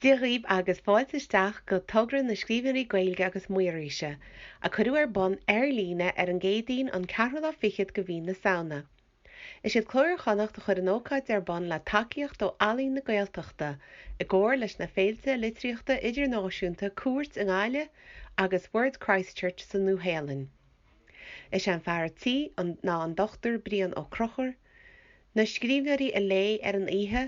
Dia dhaoibh agus fáilte isteach go Togra na Scríbhneoirí Gaeilge agus Maoraise, a cuireadh ar bun ar líne ar an gCéadaoin an ceathrú lá fichead de mhí na Samhna. Is iad Cló Iar-Chonnacht a chuir an ócáid ar bun le tacaíocht ó Ealaín na Gaeltachta, i gcomhar leis na féilte litríochta idirnáisiúnta Cúirt i nGaillimh agus Word Christchurch sa Nua-Shéalainn. Is é an fear tí ná an Dr Brian Ó Conchubhair. Na scríbhneoirí a léigh ar an oíche,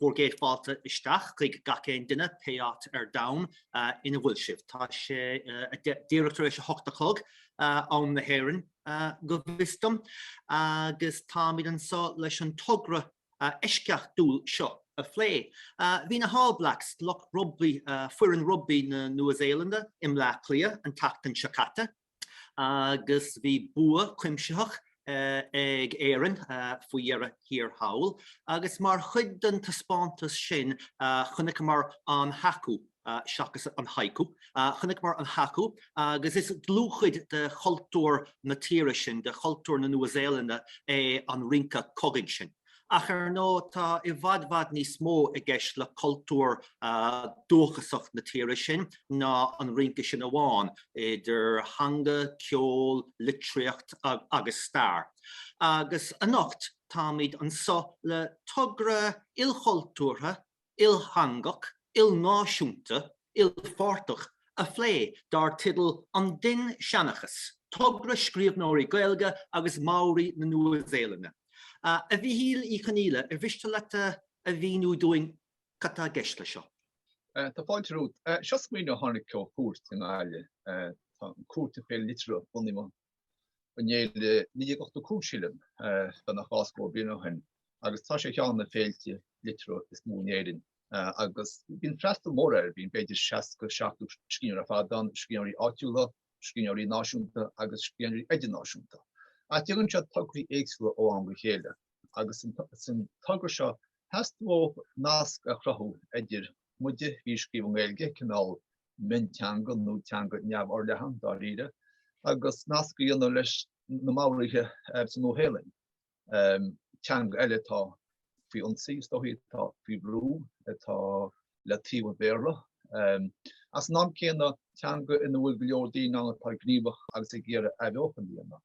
Bhur gcéad fáilte isteach chuig gach aon duine, pé áit ar domhan ina bhfuil sibh. Tá sé díreach tar éis a hocht a chlog, am na hÉireann go bhfios dom, agus táimid anseo leis an togra eisceachtúil seo a phlé. Bhí na hAll Blacks, lucht rugbaí, foireann rugbaí na Nua-Shéalainne, i mBleá Cliath an tseachtain seo caite. agus bhí bua cuimsitheach ag Éirinn faoi dheireadh thiar thall, agus mar chuid den taispeántas sin chonaiceamar an haka, seachas an haiku, chonaiceamar an haka agus is dlúthchuid de chultúr na tíre sin, de chultúr na Nua-Shéalainne é an rince cogaidh sin. Ach ar ndóigh, tá i bhfad bhfad níos mó i gceist le cultúr dúchasach na tíre sin ná an rince sin amháin, idir theanga, ceol, litríocht agus stair. Agus anocht táimid anseo le togra ilchultúrtha iltheangach, ilnáisiúnta, ilpháirteach a phlé dar teideal 'An Dinnseanchas, Togra Scríbhneoirí Gaeilge agus Maori na Nua-Shéalainne'. A Mhichíl Uí Chonghaile, ar mhiste leat a mhíniú dúinn cad tá i gceist leis seo? Tá fáilte romhat. Seo smaoineamh a tháinig ó Chúirt i nGaillimh. Tá Cúirt ar fhéile liteartha, bunaíodh mo an fhéile 1985 sílim beagnach dhá scór bliain ó shin agus tá sé ar cheann de na féilte liteartha is mó in Éirinn agus bíonn freastal mór air, bíonn b'fhéidir 60, 70 scríbhneoir ar fad ann, scríbhneoirí áitiúla, scríbhneoirí náisiúnta agus scríbhneoirí idirnáisiúnta. Ach déanann siad tograí éagsúla ó am go chéile agus san togra seo theastaigh uathu nasc a chruthú idir muide, a bhí ag scríobh i nGaeilge, cineál mionteanga nó teanga neamhfhorleathan dáiríre, agus nasc a dhéanamh leis na Maoraithe sa Nua-Shéalainn, teanga eile atá faoi ionsaí is dóichí, atá faoi bhrú, atá le taobh an Bhéarla. Ach san am céanna, teanga ina bhfuil go leor daoine ann atá gníomhach agus ag iarraidh athbheochan a dhéanamh.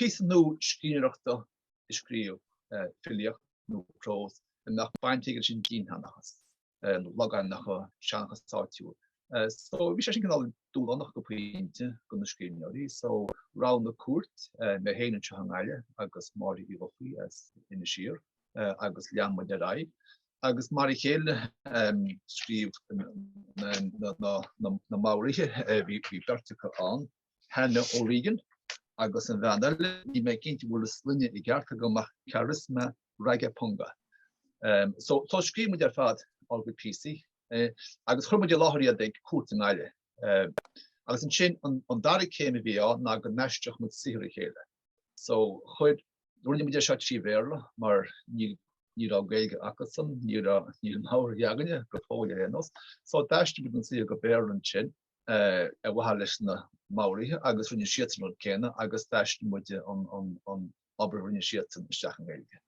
Píosa nua scríbhneoireachta a scríobh, filíocht nó prós, a mbeadh baint aige leis an dinnseanchas, logainmneacha, seanchas áitiúil. So bhí sé sin cineál dúshlánach go pointe do na scríbhneoirí so roghnaigh Cúirt, mé féin anseo i nGaillimh agus Máire Uí Dhufaí as Inis Oírr agus lean muid ar aghaidh agus mar a chéile scríobh na Maoraithe, bhí beirt acu ann. Hannah O'Regan agus an bhean eile, níl mé cinnte an bhfuil a sloinne i gceart agam ach Charisma Rangipunga. So so scríobh muid ar fad ár gcuid píosaí agus chuir muid i láthair iad ag Cúirt i nGaillimh. Agus ansin an an dara céim a bhí ann ná go n-aistreodh muid saothar a chéile. So chuir rinne muid é seo trí Bhéarla mar ní ní raibh Gaeilge acusan, ní raibh ní raibh Maorais againne go fóill ar aon nós. So d'aistrigh muid an saothar go Béarla ansin. ar mhaithe leis na Maoraithe agus rinne siadsan an rud céanna agus d'aistrigh muid an obair a rinne siadsan isteach i nGaeilge.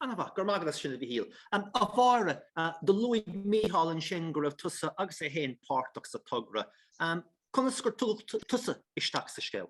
Ana-mhaith, go raibh maith agat as sin a Mhichíl. A Mháire, do luaigh Micheál ansin go raibh tusa agus é féin páirteach sa togra. Conas gur tugadh tusa isteach sa scéal?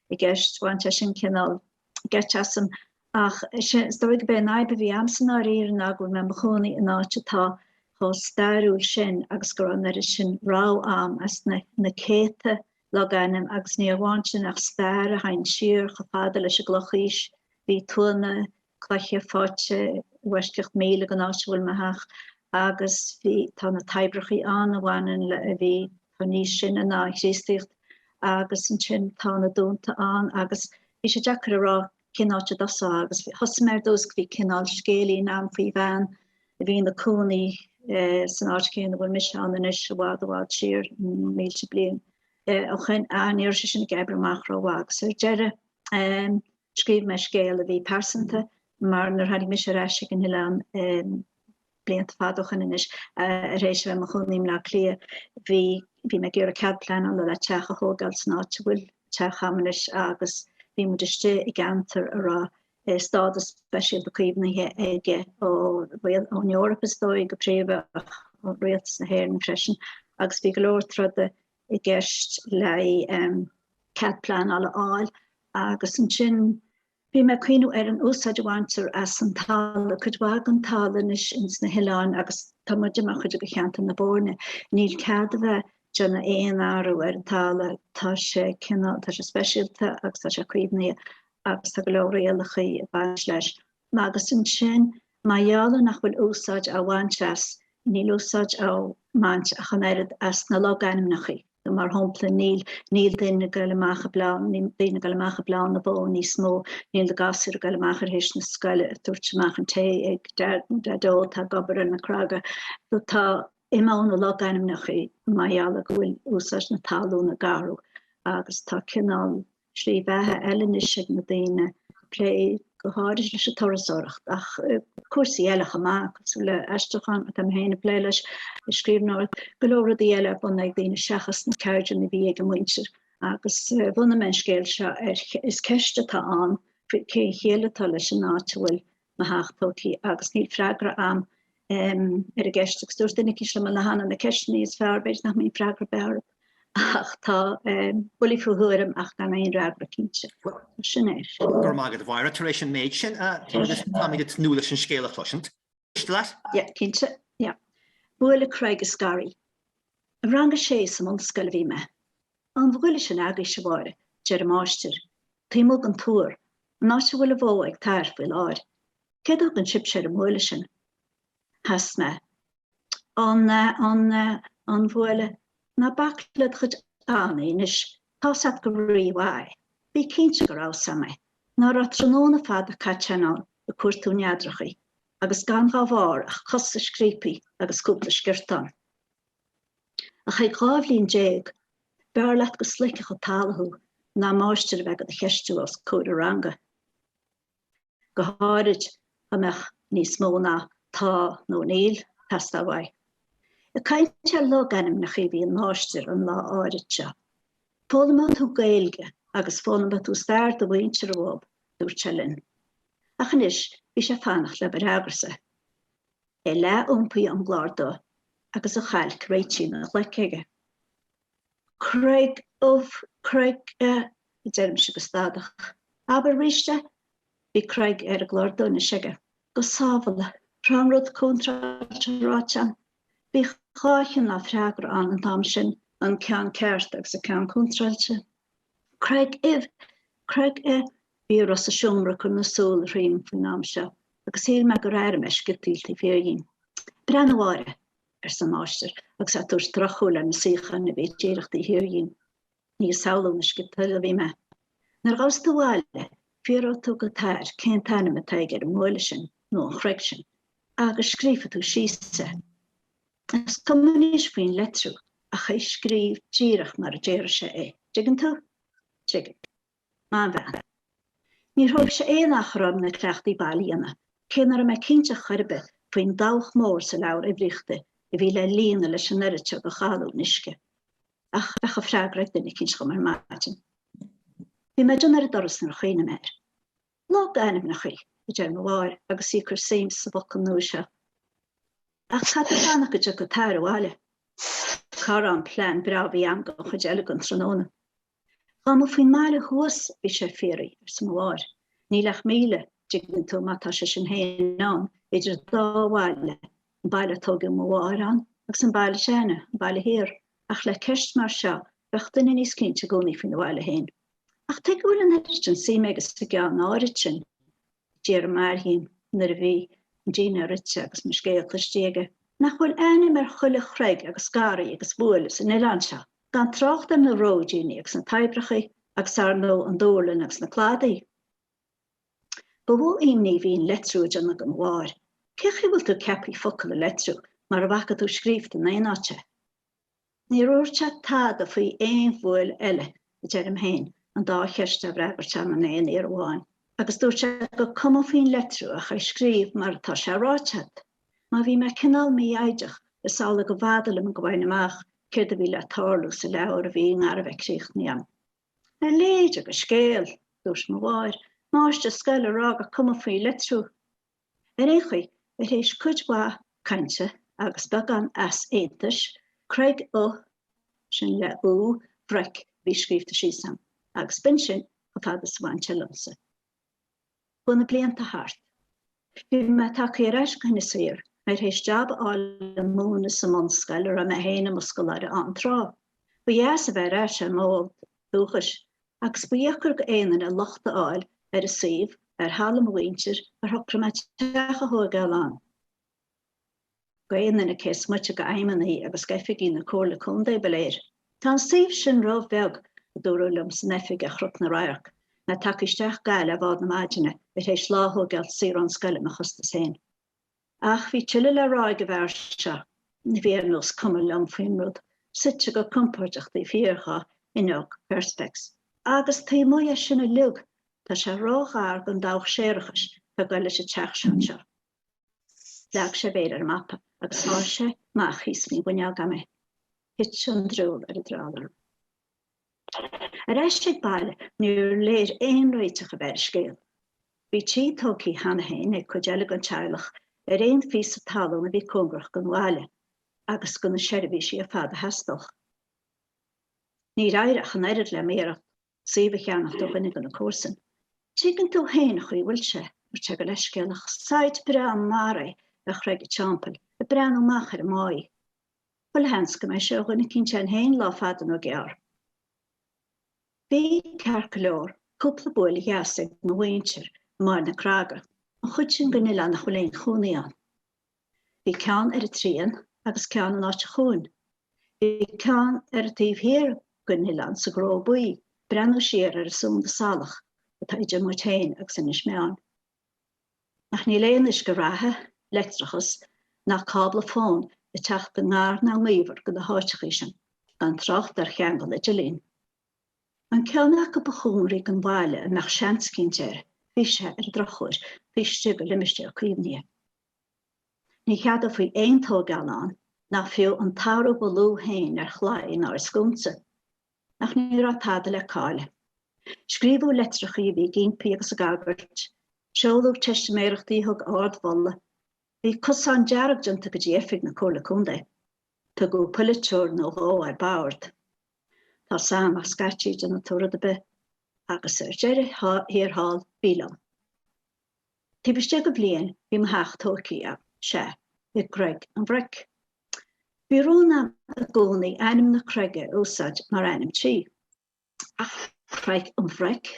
i gceist, bhain sé sin cineál geit asam, ach is dóigh go b'é an fhadhb a bhí agamsa ná arae go bhfuil mé i mo chónaí in áit atá chomh stairiúil sin agus go raibh an oiread sin rogha ann as na céadta logainm agus ní amháin sin ach stair a théann siar chomh fada leis an gClochaois, bhí tuanna cloiche faighte i bhfoisceacht míle den áit a bhfuil mé ach agus bhí tá na taibhreachaí ann a bhaineann le a bhí tá níos sine ná an Chríostaíocht agus ansin tá na dúnta ann agus bhí sé deacair a rá cén áit a dtosófá agus thosaigh mé ar dtús go bhí cineál scéilín ann faoi bhean a bhí ina cónaí eh, san áit chéanna bhfuil mise ann anois i bhfad i bhfad siar mílte bliain eh, ó shin ach ní raibh sé sin ag oibriú amach rómhaith agus ar deireadh eh, Scríobh mé scéal a bhí pearsanta mar nuair tháinig mise ar ais ag an oileán blianta fada ó shoin anois tar éis a bheith i mo chónaí i mBleá Cliath bhí bhí mé ag iarraidh cead pleanála le teach a thógáil san áit a bhfuil teach a'm anois agus bhí muid istigh i gceantar a raibh stádas speisialta caomhnaithe aige ó rialtas ón Eoraip is dóigh go príomha ach ó rialtas na hÉireann freisin agus bhí go leor troda i gceist le cead pleanála a fháil agus ansin bhí mé ag cuimhniú ar an úsáid a bhaintear as an talamh, cuid mhaith den talamh anois ins na hoileáin agus tá muid mar chuid de cheantar na Boirne, níl cead a bheith ag déanamh aon athrú ar an talamh, tá sé cineál, tá sé speisialta agus tá sé caomhnaithe agus tá go leor rialacha ag baint leis. agus ansin, mar gheall nach bhfuil úsáid á bhaint as, níl úsáid á mbaint ach an oiread as na logainmneacha. Mar shampla, níl, níl daoine ag goil amach ag bleán, níl daoine ag goil amach ag bleán na bó níos mó, níl na gasúir ag goil amach thar éis na scoile, ag tabhairt amach an tae ag Daideo atá ag obair ar na creaga. Tá, imíonn na logainmneacha mar gheall go bhfuil úsáid na talún ag athrú agus tá cineál slí bheatha eile anois ag na daoine ag plé go háirid leis an turasóireacht ach cúrsaí eile chomh maith, cosúil le aistriúchán atá mé féin ag plé leis, scríbhneoireacht, go leor rudaí eile ar bun ag daoine seachas na ceirdeanna a bhí ag a muintir. Agus bhunaigh mé an scéal seo ar, is ceist atá ann cén chiall atá leis an áit a bhfuil mo theach tógthaí agus níl freagra a'm ar an gceist agus dúirt duine eicínt liom cheana, na ceisteanna is fearr b'fhéidir nach mbíonn freagra ar bith orthub ach tá buillí faoi thuairim ach gan aon fhreagra cinnte. Sin é. Go raibh maith agat a Mháire tar éis an méid sin a dúirt. Táimid ag tnúth leis an scéal a chloisint. Miste leat? Yeah, cinnte, yeah. Buaile, Creig is Garraí. I rang a sé sa mbunscoil a bhí mé. An bhuaile sin agaibhse a Mháire, deir an máistir. Taobh amuigh den Túr An áit a bhfuil an bhó ag t'athair faoi láthair, céard a thugann sibhse ar an mbuaile sin? Sheas mé. An, an, an bhuaile, ná bac le do chuid annaí anois, tá's a't go rí-mhaith, bí cinnte go raibh a fhios a'm é, nach raibh tráthnóna fada caite a'm ann ag cuartú neadrachaí, agus gan dhá bharr ach cosa scríobthaí agus cúpla sciortán. Ach ag dhá bhliain déag, b'fhearr leat go sloigfeadh an talamh thú ná máistir a bheith ag do cheistiú os comhair an ranga, go háirid dá mbeadh níos mó ná 'Tá' nó 'Níl' ag teastáil uaidh. Ag caint ar logainmneacha a bhí an máistir an lá áirid seo. Foghlaimeoidh tú Gaeilge agus foghlaimeoidh tú stair do mhuintir uathub, dúirt sé linn. Ach anois bhí sé ag fanacht le mo fhreagrasa. é leathiompaithe ón gclár dubh agus a chailc réitithe ina ghlaic aige. Creig ubh creig a deirimse go stadach. Abair arís é? Bhí creig ar an gclár dubh anois aige. Go sábhála, an raibh an rud contráilte ráite a'm? Bhí dhá chineál freagra ann an t-am sin, an ceann ceart agus an ceann contráilte. Creig uibh creig a Bhí a raibh sa seomra ag cur na súl thríom faoin am seo, agus shíl mé gur airigh mé sciotaíl taobh thiar dhíom. Breathnaigh a Mháire! arsa an máistir agus é ag tabhairt drochshúil ar na suíocháin a bhí díreach taobh thiar dhíom. Ní ag samhlú na sciotaíola a bhí mé. Nuair a ghabhas tú abhaile, fiafróidh tú go t'athair cén t-ainm atá aige ar an mbuaile sin, nó an chreig sin, agus scríofa tú síos é. Is cuma anois faoin litriú, ach é a scríobh díreach mar a déarfadh sé é. Dtuigeann tú? Tuigim. Maith an bhean. Níor thóig sé aon achar orm na cleachtaí baile a dhéanamh, cé nach raibh mé cinnte chor ar bith faoin dabhach mór sa leabhar uimhríochta a bhí le líonadh leis an oiread seo de ghalúin uisce. Ach bheadh an freagra ag duine eicínt dhom ar maidin. Bhí mé ag déanamh ar an doras nuair a chuimhnigh mé air. Logainmneachaí, a deir mo mháthair agus í ag cur suim sa bhfocal nua seo. Ach caithfidh tú fanacht go dtiocfaidh t'athair abhaile. Cá raibh an plean breá a bhí agam don chuid eile den tráthnóna? Dhá mba faoin mbaile thuas a bhí sé ag fiafraí, arsa mo mháthair. Níl ach míle, dtuigeann tú, má tá sé sin fhéin ann, idir an dá bhaile, an baile a tóigeadh mo mháthair ann agus an baile seo againne, an baile thiar, ach le ceist mar seo bheadh duine níos cinnte i gcónaí faoin a bhaile fhéin. Ach tuige a bhfuil an oiread sin suime aige sa gceann áirid sin d'fhiafraigh m'athair dhíom, nuair a bhí an dinnéar ite agus mo scéal cloiste aige, nach bhfuil ainm ar chuile chreig agus garraí agus buaile san oileán seo. gan trácht ar na róidíní agus na toibreachaí agus, ar ndóigh, an duirling agus na cladaí. Ba mhó imní a bhí an litriú ag déanamh do mo mháthair, cé chaoi a bhfuil tú ceapthaí focal a litriú mara bhfaca tú scríobhta in aon áit é? Níor dhúirt sé tada faoi aon bhuaile eile, a deirim féin, an dá cheist á bhfreagairt agam in aon iarraidh amháin, agus dúirt sé gur cuma faoin litriú ach é a scríobh mar atá sé ráite agat. Má bhí mé cineál mífhoighdeach, is amhlaidh gurbh fhada liom go bhfaighinn amach céard a bhí le tarlú sa leabhar a bhí i ngar a bheith críochnaithe agam. A leithéide de scéal, dúirt mo mháthair, máistir scoile ag rá gur cuma faoi litriú ar aon chaoi ar théis cuid mhaith cainte agus beagán easaontais Creig O sin le O bhroic a bhí scríobhta síos agam agus b'in sin chomh fada is a bhain sé liomsa. Ghabh na blianta thart. Bhí mé tagthaí ar ais go hInis Oírr, mé ar théis jab a fháil ag múineadh sa mbunscoil a raibh mé féin i mo scoláire ann tráth, ba dheas a bheith ar ais ar m'fhód dúchais agus ba dheacair go aon duine locht a fháil ar an suíomh, ar thalamh mo mhuintire, ar shocraigh mé teach a thóigeáil ann. d'aon duine cé is moite d'fheidhmeannaigh agus d'oifigigh na Comhairle Contae ba léir. Tá an suíomh sin róbheag, a dúradh liom san oifig ar Chnoc na Radharc, mé tagtha isteach go Gaillimh ar bhád na maidine tar éis lá a thóigeáilt saor ón scoil ar mo chostas féin. Ach bhí tuilleadh le rá ag an bhfear seo a bhí ar nós cuma liom faoin rud, suite go compóirdeach taobh thiar dhá fhuinneog Perspex. Agus taobh amuigh dhe sin uilig, tá sé róghar don dabhach séarachais atá ag dul leis an teach seo anseo. Leag sé a mhéar ar an mapa agus sháigh sé amach thíos faoin bhfuinneog agam é. Thit an drioll ar an dreall orm. Ar ais ag baile níor léir aon réiteach a bheith ar an scéal. Bhí tithe tógtha cheana féin ag cuid eile den teaghlach ar aon phíosa talún a bhí cóngarach don bhaile agus do na seirbhísí ar fad a theastódh. Níor éirigh ach an oiread le m'iarracht. suíomh a cheannacht ó dhuine de na comharsain. Tuigeann tú féin an chaoi a bhfuil sé, a dúirt sé go leithscéalach. Site breá mar é ar Chreig an Teampaill, ag breathnú amach ar an mbáigh. Chuile sheans go mbeidh sé ó dhuine eicínt againn féin lá fada nó gearr. Bhí, ceart go leor, cúpla buaile dheas ag mo mhuintir amuigh ar na Craga, an chuid sin den oileán nach bhfuil aon chónaí ann. Bhí ceann ar an Trian agus ceann in áit a chúin. Bhí ceann ar an taobh thiar den oileán sa gCró Buí ag breathnú siar ar an sunda salach atá idir muid féin agus Inis Meáin. Ach níl aon uisce reatha, leictreachas ná cábla fóin ag teacht i ngar ná i ngaobhar go na háiteachaí sin, gan trácht ar cheangal idirlín. An ceann acu ba chóngaraí don bhaile a mbeadh seans eicínt air, bhí sé, ar an drochuair, taobh istigh de limistéar caomhnaithe. Ní cheadófaí aon tóigeáil ann, ná fiú an t-athrú ba lú féin ar chlaí ná ar scúnsa. Ach ní raibh tada le cailleadh. Scríobhadh leitreachaí a bhí ag ímpí agus ag agairt. Seoladh teistiméireachtaí a thug ard-mholadh. Bhí cosán dearg déanta go dtí oifig na Comhairle Contae. Tugadh polaiteoir nó dhó ar bord. Tá a fhios agam, ach scaití déanfaidh tú rud ar bith. Agus ar deireadh thiar thall, bhí liom. Taobh istigh de bhliain bhí mo theach tógtha agam, sea, i gCreig an Bhroic. Bhí rún agam i gcónaí ainm na creige a úsáid mar ainm tí. Ach Creig an Bhroic?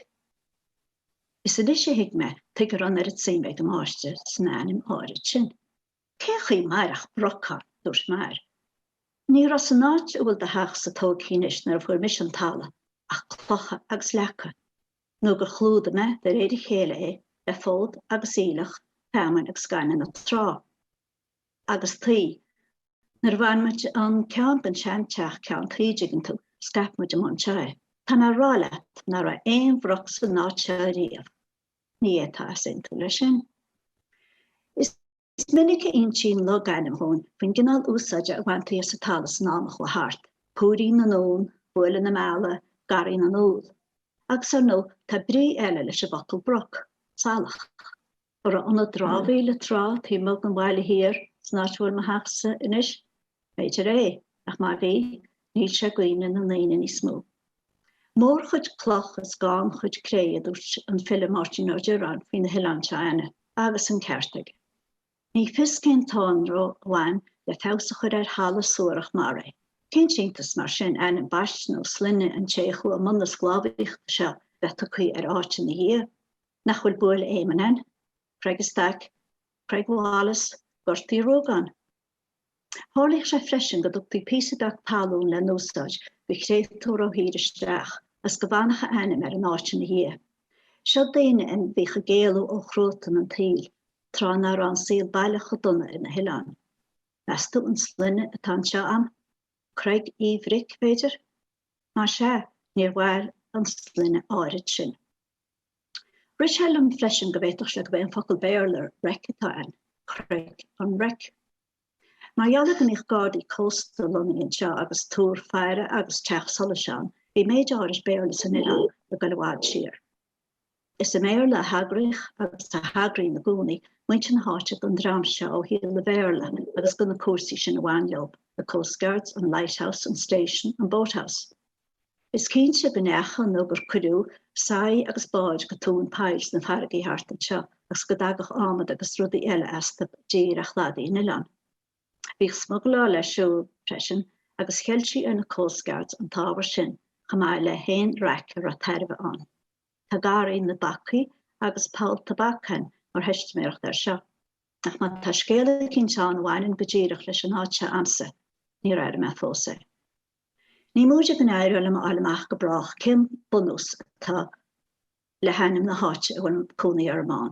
Is anois a thuig mé tuige a raibh an oiread suime ag an máistir san ainm áirid sin. Cén chaoi a mairfeadh broc ann, a dúirt m'fhear. Ní raibh san áit a bhfuil do theachsa tógtha anois nuair a fuair mise an talamh ach clocha agus leaca. nó gur chlúdaigh mé de réir a chéile é le fód agus aoileach, feamainn agus gaineamh na trá agus tuí. Nuair a bhain muid an ceann den seanteach ceann tuí, an dtuigeann tú, scaip muid amuigh anseo é. Tá mé ag rá leat ná raibh aon bhroc san áit seo riamh. Ní fhéadfá easaontú leis sin. Is minic a insíonn logainm dhúinn faoin gcineál úsáide a bhaintear as an talamh san am a chuaigh thart, púirín na nUan, buaile na meala, garraí na n-úll. Agus ar ndóigh, tá brí eile leis an bhfocal broc, salach, an raibh ionad dramhaíola tráth taobh amuigh den bhaile thiar san áit a bhfuil mo theach-sa anois, B'fhéidir é, ach má bhí, níl sé i gcuimhne na ndaoine níos mó. Mórchuid cloch is gannchuid cré, a dúirt an file Máirtín Ó Direáin faoi na hoileáin seo a'inne, agus an ceart aige. Ní fios cén t-anró a bhain le feabhas a chur ar thalamh suarach mar é. Cén t-iontas, mar sin, ainm baiste nó sloinne an té a chuaigh i mbun na sclábhaíochta seo bheith tugtha ar áit ina dhiaidh? Nach bhfuil Buaile Éamonn ann? Creig Stack? Creig Wallace? Gort Uí Ruagáin? Tharlaíodh sé freisin go dtugtaí píosa beag talún le n-úsáid do chréatúr ó thír isteach agus go bhfanfadh a ainm ar an áit ina dhiaidh. Seo daoine a bhíodh ag éalú ó chruatan an tsaoil, tráth nach raibh an saol baileach chomh dona ar na hoileáin. Meas tú an sloinne atá anseo a'm? Creig Uí Bhric, b'fhéidir? Más ea, níor mhair an sloinne áirid sin. Rith sé liom freisin go bhféadfadh sé gurb é an focal Béarla wreck atá ann, creig an wreck. Mar gheall ar go mbíodh gardaí cósta lonnaithe anseo agus túr faire agus teach solais ann, bhí méid áirid Béarla san oileán le dul i bhfad siar. Is i mBéarla a thagraíodh agus a thagraíonn i gcónaí muintir na háite don dream seo ó shaol an Bhéarla agus do na cúrsaí sin a bhain leo, the coastguards, an lighthouse, an station, an boathouse. Is cinnte go ndeachaigh nó gur cuireadh soithí agus báid go tóin poill sna farraigí thart anseo agus go dtagadh ádhmad agus rudaí eile astu i dtír ar chladaí an Oileáin. Bhíodh smugláil ar siúl, freisin, agus cheiltí ar na coastguards an t-ábhar sin, chomh maith le haon raic a raibh tairbhe ann. Tá Garraí na bPacaí agus Poll Tobac ann mar theistiméireacht air seo. Ach má tá scéal eicínt ann a bhaineann go díreach leis an áit seo a'msa, níor airigh mé fós é. Ní móide go n-éireoidh liom a fháil amach go brách cén bunús atá le hainm na háite a bhfuil cónaí orm ann,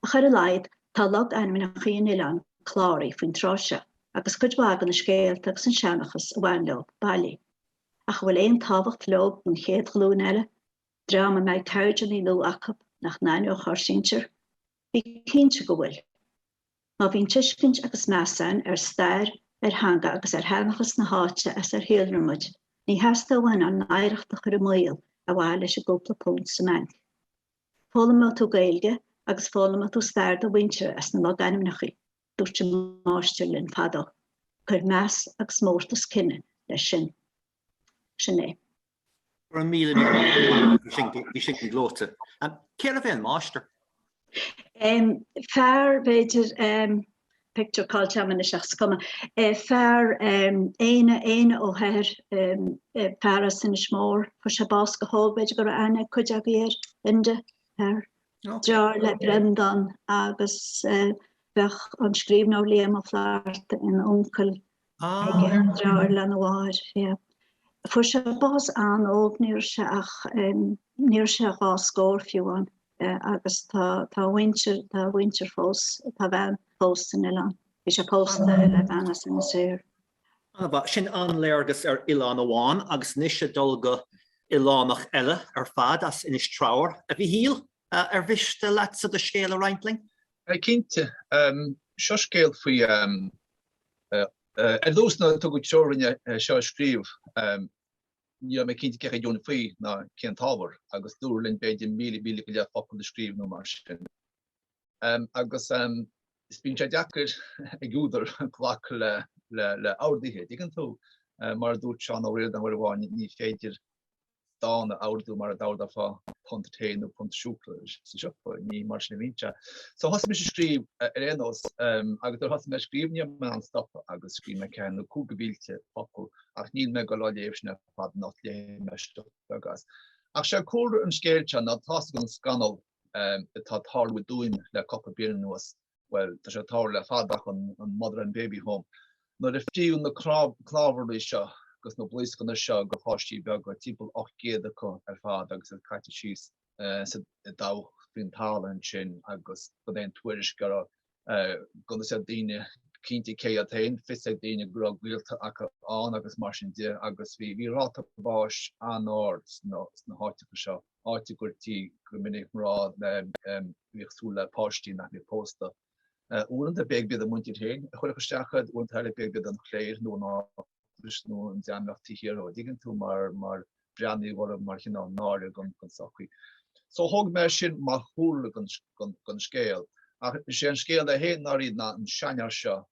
ach ar a laghad tá logainmneacha an oileáin cláraithe faoin tráth seo agus cuid mhaith de na scéalta agus an seanchas a bhain leo bailithe. Ach an bhfuil aon tábhacht leo don chéad ghlúin eile, dream a mbeidh ceirdeanna nua acu nach n-aithneodh ár sinsir? Bí cinnte go bhfuil. Má bhíonn tuiscint agus meas ann ar stair, ar theanga agus ar sheanchas na háite as ar shíolraigh muid, ní theastóidh uainn ár n-oidhreacht a chur i mbaol ar mhaithe leis an gcúpla punt sa mbainc. Foghlaimeoidh tú Gaeilge agus foghlaimeoidh tú stair do mhuintire as na logainmneacha. Dúirt an máistir linn fadó, Cuir meas agus mórtas cine leis sin. Sin é. Go raibh míle míle maith agat. Bhí sin go gleoite. Cérbh é an máistir? Fear, b'fhéidir, pictiúr caillte agam anois ach is cuma. Fear Éanna, Éanna Ó hEithir, fear as Inis Mór. Fuair sé bás go hóg, b'fhéidir go raibh aithne ag cuid agaibh air, Enda Hehir. Deartháir le Breandán agus bheadh an scríbhneoir Liam Ó Flaithearta ina uncail aige, deartháir lena mháthair, yeah. Fuair sé bás an-óg, ní raibh sé ach, em, ní raibh sé dhá scór fiú ann, eh, agus tá, tá a mhuintir, tá a mhuintir fós, tá a bhean fós san oileán. Bhí sé pósta le bean as Inis Oírr. An-mhaith, sin an-léargas ar oileán amháin agus anois ag dul go h-oileánach eile ar fad as Inis Treabhair. A Mhichíl, eh, ar mhiste leatsa do scéal a roinnt linn? Eh, cinnte. Em, seo scéal faoi, em, Ar dtús, nuair a tugadh treoir dúinn é seo a scríobh, ní raibh mé cinnte céard a dhéanfainn faoi ná cén t-ábhar agus dúradh linn b'fhéidir míle, míle go leith focal a scríobh nó mar sin. Agus is bíonn sé deacair ag údar glacadh le le le orduithe, an dtuigeann tú? Mar a dúirt Seán Ó Ríordáin uair amháin, ní féidir dán a ordú mar a d'ordófá punt tae nó punt siúcra sa siopa, ní mar sin a bhíonn sé. So thosaigh mise ag scríobh ar aon nós agus nuair a thosaigh mé ag scríobh ní raibh mé in ann stopadh agus scríobh mé ceathair nó cúig de mhílte focal ach níl mé ag dul á léamh sin ar fad ach léifidh mé píosa beag as. Ach sé cúlra an scéil seo ná tá a fhios agaibh an scannal atá ag tarlú i dTuaim le cupla bliain anuas bhuel, tá sé ag tarlú le fada ach an mother and baby home. Nuair a fríodh na cnámharlaigh seo agus na blaoscanna seo de pháistí beaga, timpeall 800 acu ar fad agus iad caite síos i ndabhach faoin talamh ansin agus gan aon tuairisc gan a fhios ag daoine cinnte cé hiad féin, fios ag daoine go raibh gaolta acu ann agus mar sin de agus bhí ráta báis an-ard sna háiteacha seo. áit a gcuirtí go minic mná a bhíodh ag súil le páistí nach mbeadh pósta uaireanta, b'fhéidir go mb'iad a muintir féin a chuirfeadh isteach iad uaireanta eile, b'fhéidir go mb'iad an chléir nó an eaglais nó an dream a bheadh taobh thiar dó an dtuigeann tú mar breathnaíodh orthu mar chineál náire don tsochaí. So thóg mé sin mar chúlra don scéal. Ach is é an scéal é féin ná faoin seanfhear seo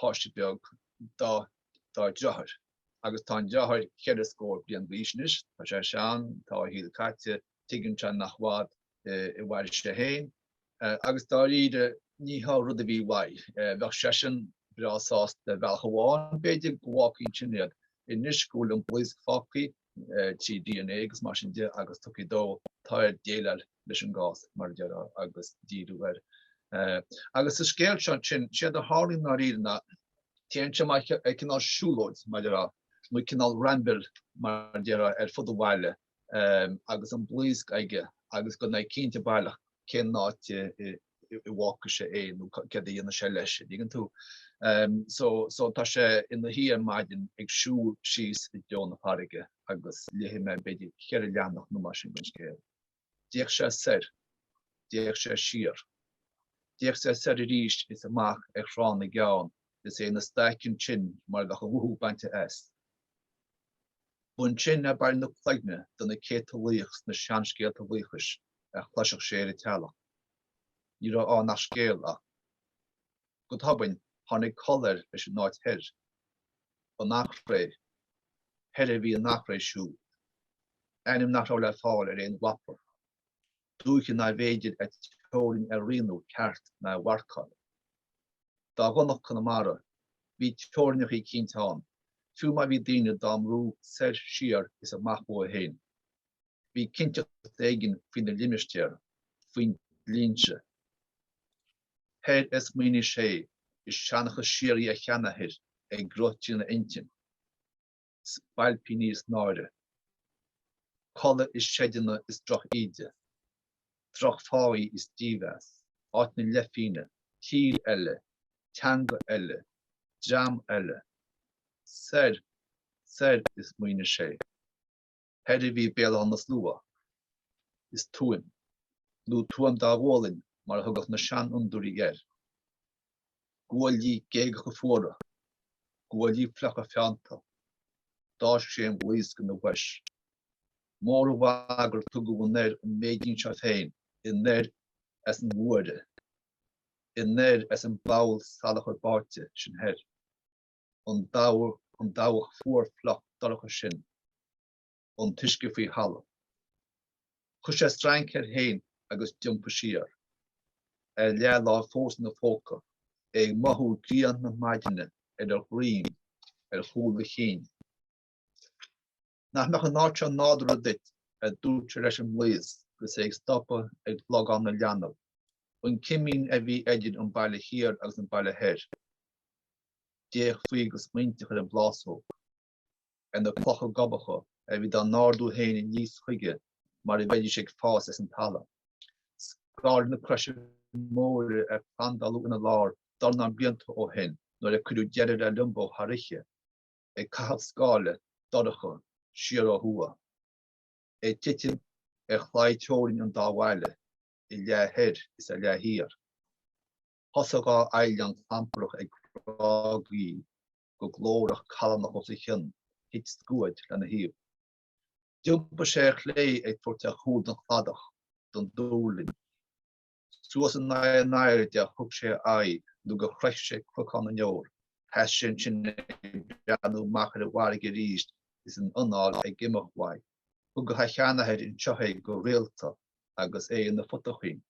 páiste beag dá dheartháir agus tá an deartháir cheithre scór bliain d'aois anois, tá sé sean, tá a shaol caite, tuigeann sé nach fada a mhairfidh sé féin agus dáiríre ní hé an rud a bhí uaidh, bheadh seisean breá sásta bealach amháin b'fhéidir go bhfágfaí ansin iad, anois go bhfuil an blaosc fágtha trí dna agus mar sin de agus tiocfaidh dó táir déileáil leis an gcás mar a déarfá agus díriú air agus sa scéal seo ansin séard a tharlaíonn dáiríre ná téann sé mar cineál siúlóid mar a déarfá nó cineál ramble mar a déarfá ar fud an bhaile agus an blaosc aige agus gan é cinnte baileach cén áit a bhfágfaidh sé é nó céard a dhéanfaidh sé leis an dtuigeann tú. So so tá sé ina shuí ar maidin ag siúl síos i dtreo na farraige agus léifidh mé b'fhéidir ceithre leathanach nó mar sin den scéal. D'fhéach sé soir. D'fhéach sé siar. D'fhéach sé soir arís is amach ar Thrá na gCeann is é ina staic ansin mar a bheadh a mhothú bainte as. B'ansin a bearradh na cloigne de na céadta laoch sna seanscéalta laochais a chloisfeadh sé ar an teallach. Ní raibh ann ach scéal ach. Go tobann, tháinig col air leis an áit thoir. An Eachréidh. Thoir a bhí an Eachréidh siúd. Ainm nach raibh le fáil ar aon mhapa. Dúiche nárbh fhéidir a teorainn a rianú ceart ná a mharcáil. Dá dhonacht Conamara, bhí teorainneachaí cinnte ann, fiú má bhí daoine dá mbrú soir, siar is amach uathu féin. bhí cinnteacht éigin faoi na limistéir faoin dlínse thoir a smaoinigh sé is seanchas síoraí a sheanathair ag rith trína intinn, spailpíní is náire, codladh i seideanna is drochíde, drochpháí is dímheas, áit na leithphingine, tír eile, teanga eile, dream eile. Soir, soir, a smaoinigh sé. Thoir a bhí Béal Átha na Slua. Is Tuaim, nó Tuaim Dá Ghualainn mar a thugadh na seanfhondúirí air, guaillí géagacha fuara, guaillí fliucha feannta. D'fháisc sé an bhlaosc ina bhois. Mór an mhaith gur tugadh anoir an méidín seo féin, anoir as an bhfuaire, anoir as an bpoll salachair báite sin thoir. an dabhach fuar fliuch dorcha sin an t-uisce faoi thalamh. Chuir sé strainc air fhéin agus d'iompaigh siar a leathláimh fós ina phóca, é ag mothú grian na maidine ar a dhruim ar chúl a chinn. Nach mbeadh an áit seo nádúrtha duit? a dúirt sé leis an mblaosc agus é ag stopadh ag Logán na Leanbh. B'in cimín a bhí idir an Baile Thiar agus an Baile Thoir. D'fhéach faoi go smaointeach ar an bplásóg, ar na clocha gobacha a bhí dá n-ardú féin aníos chuige mar a bheidís ag fás as an talamh. Scáile na croise móire a plandáladh ina lár dornán blianta ó shin nuair a cuireadh deireadh le Liombó thar oíche. ag caitheamh scáile dorcha siar ó thuaidh, é ag titim ar chlaí teorann an dá bhaile a leath thoir is a leath thiar. Thosaigh dhá fhaoileán clamprach ag grágaíl go glórach callánach os a chionn, thit scuaid lena thaobh. D'iompaigh sé ar chlé ag tabhairt a chúl don chladach, don duirling. Suas in aghaidh an aird a thug sé a aghaidh nó gur shroich sé cnocán na ndeor. Sheas sé ansin ag breathnú amach ar an bhfarraige arís is an anáil ag imeacht uaidh. Thugadh a sheanathair anseo é go rialta agus é ina phutaichín.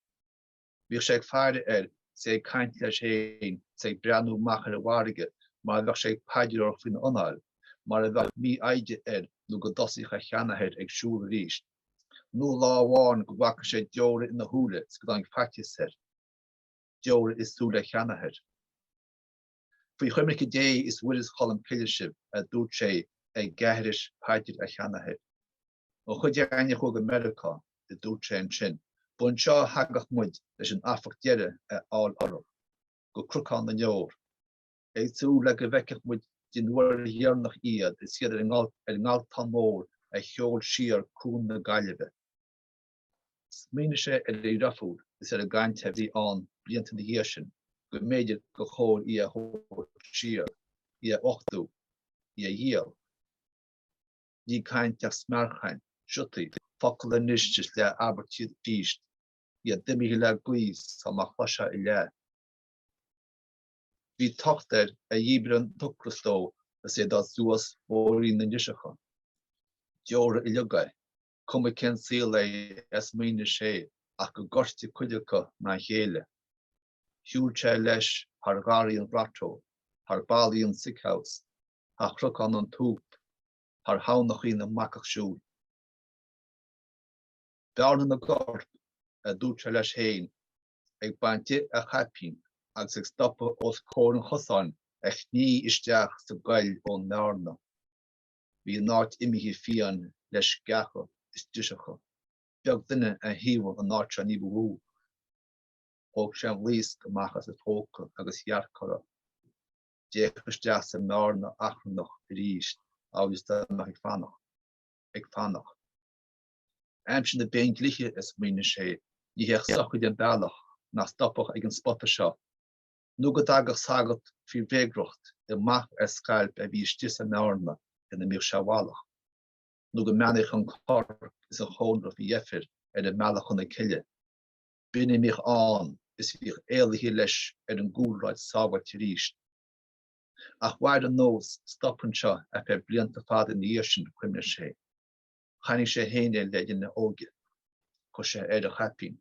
Bhíodh sé ag faire air is é ag caint leis féin is é ag breathnú amach ar an bhfarraige mar a bheadh sé ag paidreoireacht faoina anáil, mar a bheadh mífhoighde air nó go dtosaíodh a sheanathair ag siúl arís. nó lá amháin go bhfaca sé deora ina shúile is go dtáinig faitíos air, deora i súile a sheanathair. Faoi choimirce Dé is Mhuire 's Cholm Cille sibh, a dúirt sé ag aithris paidir a sheanathair. Mo chuid daoine a chuaigh go Meiriceá, a dúirt sé ansin, ba anseo a thagadh muid leis an amharc deireadh a fháil orthu, go Cnocán na nDeor. ag súil le go bhfeicfeadh muid den uair dheireanach iad is iad ar an nGaltán Mór a sheol siar Cuan na Gaillimhe. Smaoinigh sé ar a dheirfiúr is ar an gcaint a bhí ann blianta ina dhiaidh sin go mb'fhéidir gur chóir í a thabhairt siar, í a uchtú, í a dhíol. Ní caint ach smearchaint, siotaí, focal anois is leathabairtí arís, iad imithe le gaoth sul má chloisfeá a leath. Bhí tocht air a dhíbir an t-ocras dó is é ag dul suas bóithrín na ndriseacha. Deora uileag é, cuma cén saol é a smaoinigh sé ach gur goirte cuid acu ná a chéile. Shiúil sé leis thar gharraí an ghrotto, thar ballaí an sick house, thar chnocán an tsúip, thar thamhnachaí na mbacach siúil. Bearna na gcorp, a dúirt sé leis féin, ag baint de a chaipín agus ag stopadh os comhair an chosáin a shní isteach sa gcoill ón mbearna. Bhí an áit imithe fiáin le sceacha is driseacha. Beag duine a thaobhaigh an áit seo níba mhó. Thóg sé an bhlaosc amach as a phóca agus dhearc uirthi. D'fhéach isteach sa mbearna achrannach arís amhail is dá mbeadh ag fanacht. Ag fanacht. Aimsir na bpéindlíthe, a smaoinigh sé, ní théadh sochraid an bealach nach stopfadh ag an spota seo, nó go dtagadh sagart faoi bhréagriocht amach as scailp a bhí istigh sa mbearna ina mbíodh sé i bhfolach, nó go mbeannaíodh an corp is an chónra faoi dheifir ar a mbealach chun na cille. B'in a mbíodh ann, is bhíodh éalaithe leis ar an gcúlráid sábháilte arís. Ach mhair an nós stoptha seo ar feadh blianta fada ina dhiaidh sin, chuimhnigh sé. Chonaic sé fhéin é le linn a óige. Chuir sé air a chaipín.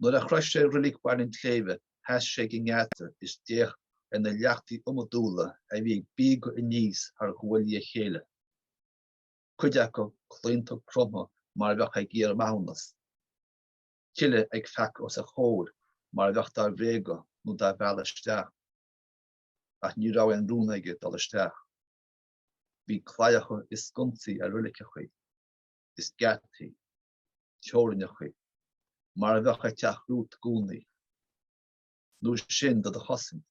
Nuair a shroich sé reilig Bhaile an tSléibhe sheas sé ag an ngeata is d'fhéach ar na leachtaí iomadúla a bhí ag bíogadh aníos thar ghuaillí a chéile, cuid acu claonta cromtha mar a bheadh ag iarraidh maithiúnas, tuilleadh ag feacadh os a chomhair mar a bheadh dá bhréagadh nó dá mhealladh isteach. Ach ní raibh aon rún aige dul isteach. Bhí claíocha is sconsaí ar reiligeachaí is geataí, teorainneachaí, mar a bheadh ag teacht romhat i gcónaí, nó sin do do chosaint,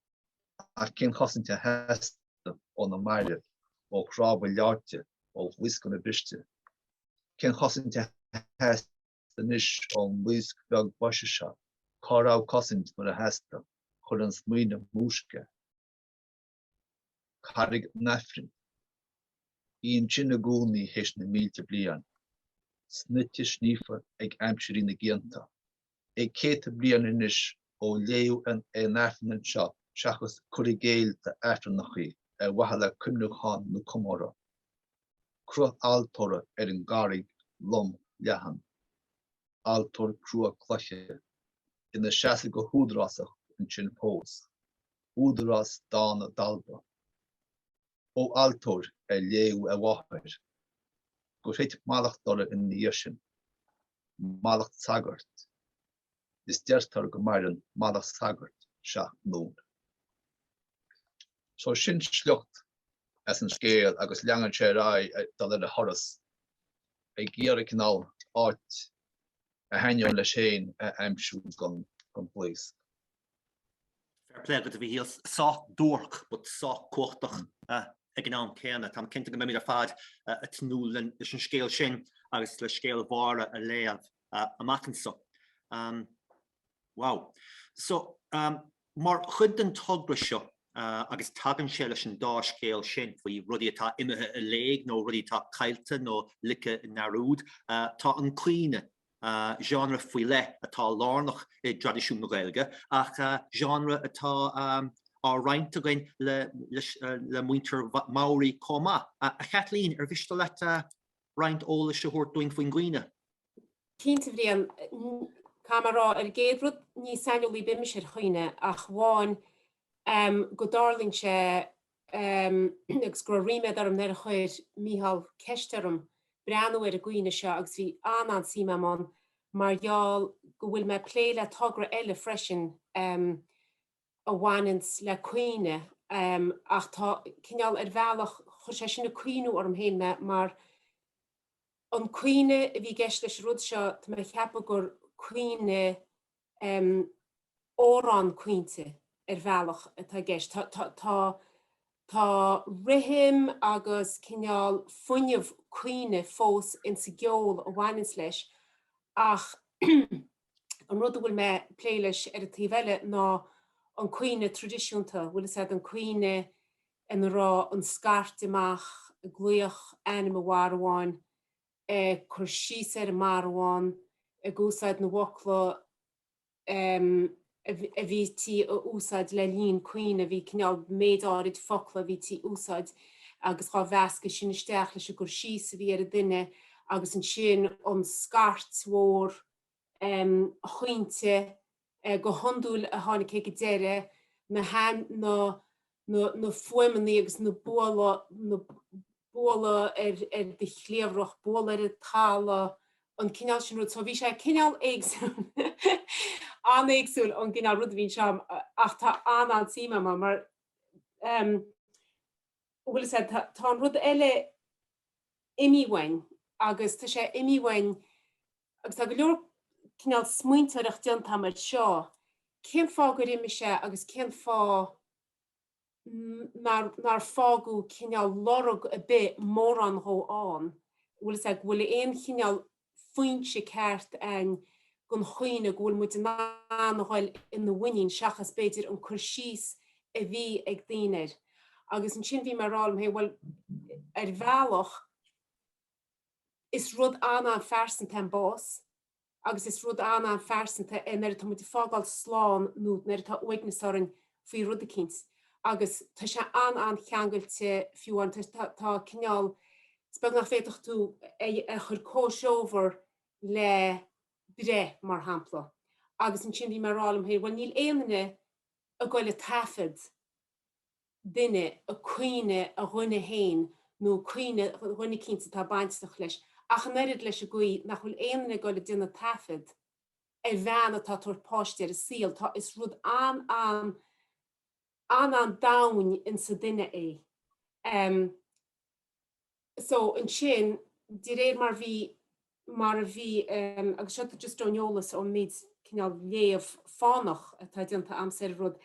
ach cén chosaint a theastaigh ó na mairbh, ó chnámha leáite, ó bhlaoscanna briste? Cén chosaint a theastaigh anois ón mblaosc bheag boise seo? Cá raibh cosaint nuair a theastaigh? Chuir an smaoineamh múisc air. Carraig an Aifrinn. Í ansin i gcónaí théis na mílte bliain, snoite sníofa ag aimsirí na gcianta. É céadta bliain anois ó léadh aon Aifreann anseo seachas cur i gcéill d'Aifreannachaí ar mhaithe le cuimniúchán nó comóradh. Cruth altóra ar an gcarraig lom leathan. Altóir crua cloiche. Ina seasamh go húdarásach ansin fós. Údarás dána dalba. Ó altóir ar léadh a mháthair gur thit mallacht orthu ina dhiaidh sin. Mallacht sagairt. Is deirtear go maireann mallacht sagairt seacht nglúin. So sin sliocht as an scéal agus leanann sé ar aghaidh ag dul ar a thuras ag iarraidh cineál áit a thaitníonn leis féin a aimsiú don bhlaosc. Fair play agat, a Mhichíl. Sách duairc, but sách cumhachtach ag an am céanna. Táim cinnte go mbeimid ar fad ag tnúth leis an scéal sin agus le scéal Mháire a léamh amach anseo. Wow. So, mar chuid den togra seo, agus tagann sé leis an dá scéal sin faoi rudaí atá imithe i léig nó rudaí atá caillte nó ligthe i ndearúd, tá an caoineadh Genre faoi leith atá lárnach i dtraidisiún na Gaeilge ach genre atá á roinnt againn le muintir Maori chomh maith. A Chaitlín, ar mhiste leat roinnt eolais a thabhairt dúinn faoin gcaoineadh? Cinnte a Bhriain, caithfidh mé a rá ar an gcéad rud ní saineolaí ar bith mise ar chaoineadh ach amháin go dtarlaíonn sé agus go raibh ríméad orm nuair a chuir Mícheál ceist orm breathnú ar an gcaoineadh seo agus bhí an-an-suím a'm ann mar gheall go bhfuil mé ag plé le togra eile freisin a bhaineanns le caoineadh ach tá cineál, ar bhealach chuir sé sin ag cuimhniú orm féin mé mar an caoineadh a bhí i gceist leis an rud seo, tá mé ag ceapadh gur caoineadh. amhrán caointe ar bhealach atá i gceist. Tá tá tá tá rithim agus cineál fuinneamh caoine fós insa gceol a bhaineanns leis ach an rud a bhfuil mé a' plé leis ar an taobh eile ná an caoineadh traidisiúnta, an bhfuil 'fhios a'd an caoineadh ina raibh an scairt amach ag glaoch ainm an mharbháin ag cur síos ar an marbhán, ag úsáid na bhfocla a bhítí a úsáid le linn caoineadh, bhí cineál méid áirid focla a bhítí a úsáid agus dhá mheascadh sin isteach leis an gcur síos a bhí ar an duine agus ansin an scairt mhór chaointe go hiondúil a tháinig sé ag deireadh na na fuaimeannaí agus na bualadh ar ar do chliabhrach, bualadh ar an talamh, an cineál sin rud. So bhí sé cineál éagsúil, an-éagsúil ón gcineál rud a bhí anseo ach tá an-an-suim a'm mar mar an bhfuil 'fhios a'd tá an rud eile imithe uainn agus tá sé imithe uainn agus tá go leor cineál smaointeoireacht déanta agam air seo, cén fáth gur imigh sé agus cén fáth nár nár fágadh cineál lorg a' bith mórán dhó ann, an bhfuil 'fhios a'd, go bhfuil aon chineál foinse ceart a'inn gon chaoineadh go bhfuil muid in ann a ghoil ina mhuinín seachas b'fhéidir an cur síos a bhí ag daoine air. Agus ansin bhí mé a' rá liom féin bhuel ar bhealach, Is rud an-phearsanta an bás agus is rud an-phearsanta é nuair atá muid ag fágáil slán nó nuair atá uaigneas orainn faoi rud eicínt agus tá sé an-an-cheangailte fiú amháin tá tá cineál is beag nach bhféadfadh tú é a chur comhthreomhar le breith mar shampla agus ansin bhí mé ag rá liom féin bhuel níl aon duine ag goil a taifead duine, ag caoineadh a dhuine féin nó ag caoineadh duine eicínt atá bainteach leis, ach an oiread leis an gcaoi nach bhfuil aon duine ag dul ag déanamh taifead ar bhean atá ag tabhairt páiste ar an saol. Tá, is rud an-an, an-an domhain insa duine é. so ansin, de réir mar bhí, mar a bhí, agus seo just ón eolas, ón méid cineál léamh fánach atá déanta agam ar an rud,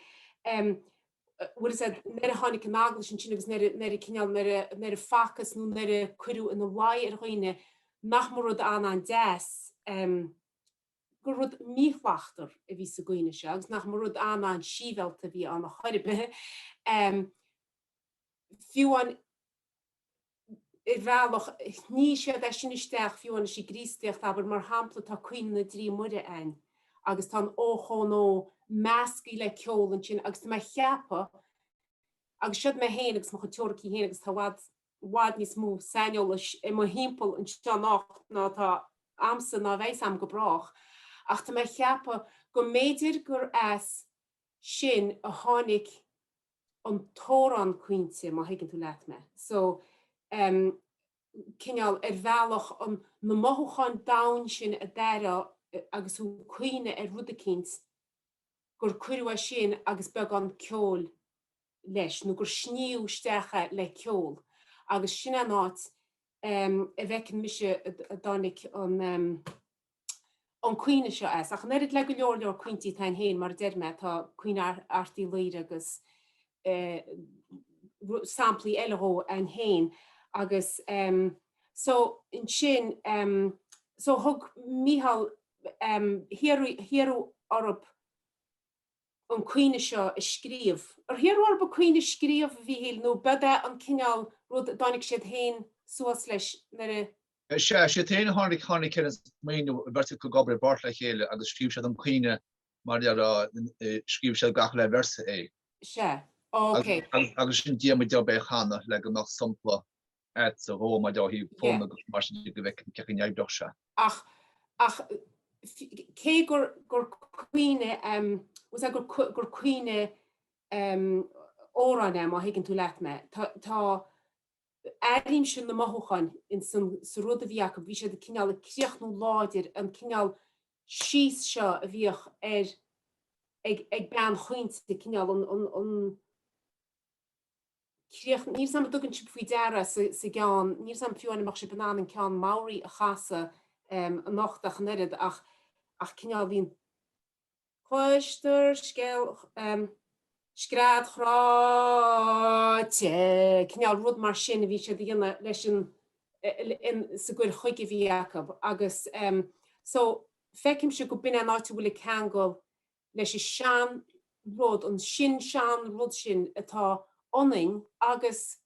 bhfuil a fhios a'd, nuair a tháinig an Eaglais ansin agus nuair a, nuair a cineál, nuair a, nuair a facthas nó nuair a cuireadh ina luí ar dhaoine nach mba rud an-an-deas, gur rud míshlachtar a bhí sa gcaoineadh seo agus nach mba rud an-an-síbhialta a bhí ann a chor ar bith, fiú amháin. ar bhealach, shníonn siad é sin isteach fiú amháin sa gCríostaíocht, abair, mar shampla, tá Caoineadh na dTrí Muire ann agus tá an ochón ó measctha le ceol ansin agus tá mé ag ceapadh, agus siod mé féin agus mo chuid teoiricí féin agus tá i bhfad, i bhfad níos mó saineolais i mo thimpeall anseo ná ná atá a'msa ná a bheas a'm go brách, ach tá mé ag ceapadh go mb'fhéidir gur as sin a tháinig an t-amhrán caointe má thuigeann tú leat mé. So em cineál ar bhealach an na mothúcháin domhain sin a d'airigh tú agus tú ag caoineadh ar rud eicínt gur cuireadh é sin agus beagán ceoil leis nó gur sníomhadh isteach é le ceol agus sin é an áit em a bhfeiceann mise a dtáinig an em an caoineadh seo as, ach an oiread le go leor leor caointí atá ann féin, mar a deir mé, tá Caoineadh Airt Uí Laoire agus samplaí eile dhó ann féin, agus so ansin, so thug, Micheál, hiarradh orthu an caoineadh seo a scríobh. Ar hiarradh orthu caoineadh a scríobh, a Mhíchíl, nó ab é an cineál rud a dtáinig siad féin suas leis nuair a. Sea, siad féin a tháinig tháinig ar an smaoineamh, go mbeadh siad ag obair i bpáirt le chéile agus scríobh siad an caoineadh mar scríobh siad gach uile véarsa é. Sea, ok. Agus ansin ba é mo job é a chanadh le go mbeadh sampla acu dhó maidir ó thaobh fonn agus mar sin de go bhfeicfinn cé chomh neamhspleach sea. Ach, ach cé gur gur caoineadh em was that gur gur caoineadh em amhrán é má thuigeann tú leat mé tá tá Airím sin na mothúcháin in san sa rud a bhí acu, bhí siad ag cineál ag críochnú láidir an cineál síos seo a bhíodh ar ag ag bean chaointe cineál an an an críoch níl a fhios a'm an dtugann sib faoi deara sa sa gceann níl a fhios a'm fiú amháin an mbeidh sib in ann an ceann Maori a chasadh anocht ach an oiread ach ach cineál bhíonn Cloistear scéal scread chráite, cineál rud mar sin a bhí siad a dhéanamh leis an, sa gcur chuige a bhí acu agus so feicimse go b'in é an áit a bhfuil an ceangal leis an sean rud, an sin sean rud sin atá ionainn agus.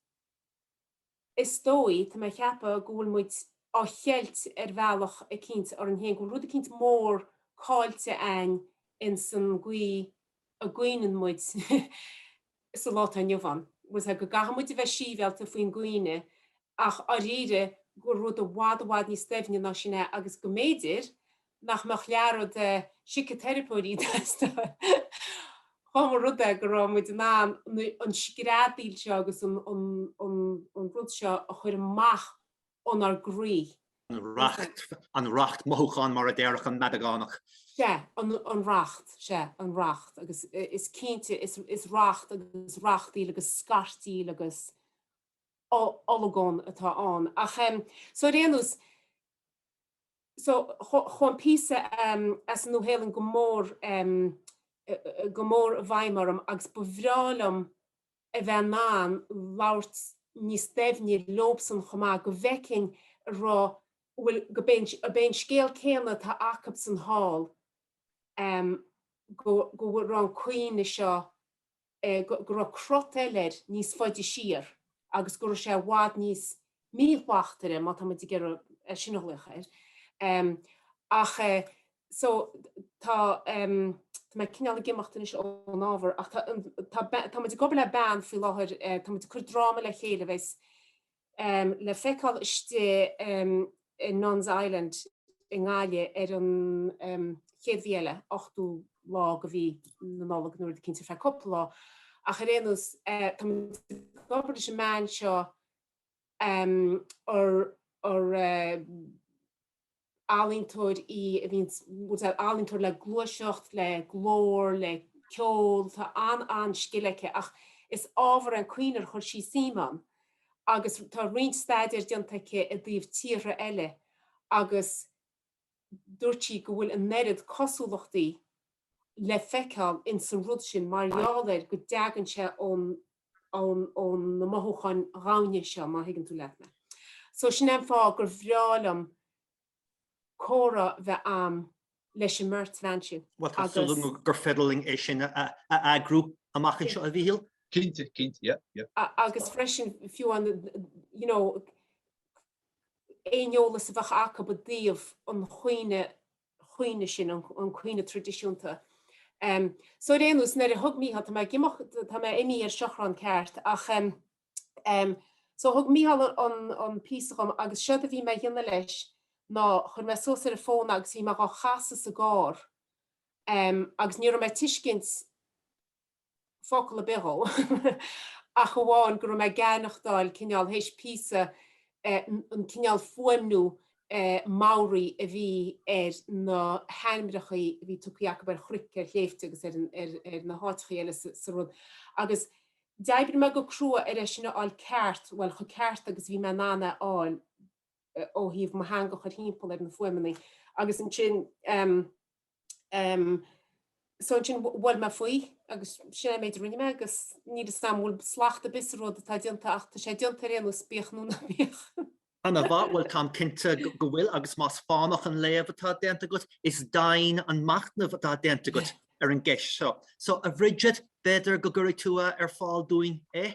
is dóigh, tá mé a cheapadh, go bhfuil muid á cheilt ar bhealach eicínt orainn féin, go bhfuil rud eicínt mór caillte againn ins an gcaoi a gcaoineann muid sa lá atá inniu ann. Bhuel, sea, go gcaithfidh muid a bheith síbhialta faoin gcaoineadh ach, dháiríre, go bhfuil rud i bhfad i bhfad níos doimhne ná sin é agus go mb'fhéidir, nach mbeadh leath an oiread de shíciteiripeoirí ag teastáil dhá mba rud é go raibh muid in ann an screadaíl seo agus an rud seo a chur amach ónár gcroí. An racht mothúchán mar a déarfadh an Madagánach. Sea, an racht, sea, an racht agus is cinnte is racht agus rachtaíl agus scairtíl agus olagón atá ann ach, so ar aon nós, so chuaigh an píosa as an Nua-Shéalainn go mór go mór i bhfeidhm orm agus ba bhreá liom a bheith in ann labhairt níos doimhne leobsan chomh maith go bhfeicfinn an raibh bhfuil go ab é an scéal céanna atá acubsan hall go go raibh an caoineadh seo go raibh crot eile air níos faide siar agus go raibh sé i bhfad níos míshlachtmhaire, má tá muid ag iarraidh é sin a ghlaoch air. Ach so tá mé cineál ag imeacht anois ón ábhar ach tá muid ag obair le bean faoi láthair, tá muid ag cur dráma le chéile a bheidheas le feiceáil istigh i Nun's Island i nGaillimh ar an chéad mhí eile, ochtú lá de mhí na Nollag, nó rud eicínt ar feadh cúpla lá. Ach ar aon nós, táimid ag obair leis an mbean seo ar. ealaíontóir í a bhíonn, bhuel, ealaíontóir le gluaiseacht, le glór, le ceol, tá an-an-scil aici ach is ábhar é an caoineadh ar chuir sí suim ann agus tá roinnt staidéir déanta aici i dtaobh tíortha eile agus dúirt sí go bhfuil an oiread cosúlachtaí le feiceáil in san rud sin mar gheall air go dtagann sé ón ó na mothúcháin dhoimhne seo, má thuigeann tú leat mé. So sin é an fáth gur bhreá liom comhrá bheith agam leis an mbeirt bhean sin agus. Bhuel, tá súil agam gur féidir linn é sin a eagrú amach anseo, a Mhíchíl. Cinnte, cinnte, yeah, yeah. Agus freisin fiú an, you know, aon eolas a bheadh acub i dtaobh an chaoineadh chaoineadh sin, an caoineadh traidisiúnta. So ar aon nós, nuair a thug Mícheál, tá mé ag imeacht, tá mé ag imí ar seachrán ceart ach ehm, so thug Mícheál an píosa dhom agus séard a bhí mé a dhéanamh leis ná, chuir mé suas ar an bhfón agus bhí mé dhá chasadh sa gcarr ehm agus ní raibh mé ag tuiscint, focal ar bith dhó ach amháin go raibh mé ag aithneachtáil cineál, théis píosa, an cineál fuaimniú Maori a bhí ar na hainmreachaí a bhí tugtha acu ar chnoic, ar shléibhte agus ar na háiteachaí eile sa rud agus d'oibrigh mé go crua ar é sin a fháil ceart, bhuel, chomh ceart agus a bhí mé in ann é a fháil ó thaobh mo theanga a chur thimpeall ar na fuaimeannaí agus ansin, So ansin bhuail mé faoi agus sin é an méid a rinne mé agus níl a fhios agam an bhfuil slacht ar bith sa rud atá déanta ach tá sé déanta ar aon nós bíodh nó ná bíodh. Ana-mhaith, bhuel táim cinnte go bhfuil agus más fánach an léamh atá déanta agat is doimhin an machnamh atá déanta agat ar an gceist seo. So a Bhridget b'fhéidir go gcuirfidh tú é ar fáil dúinn, eh?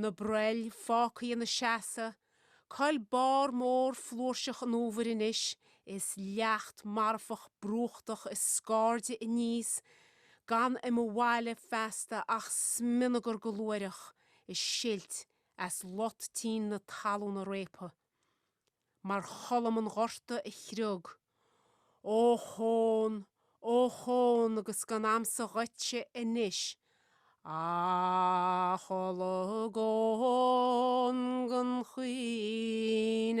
Na broill fágtha ina seasamh, coill barr mór flúirseach an uabhair anois is leacht marfach brúchtach ag scairdeadh aníos gan i mo bhaile feasta ach smionagar go luaithreach ag silt as lot tinn na talúna réabtha. mar cholm an ghorta a chriog. Ochón! Ochón! agus gan agamsa dhuitse anois ach olagón gan chaoineadh.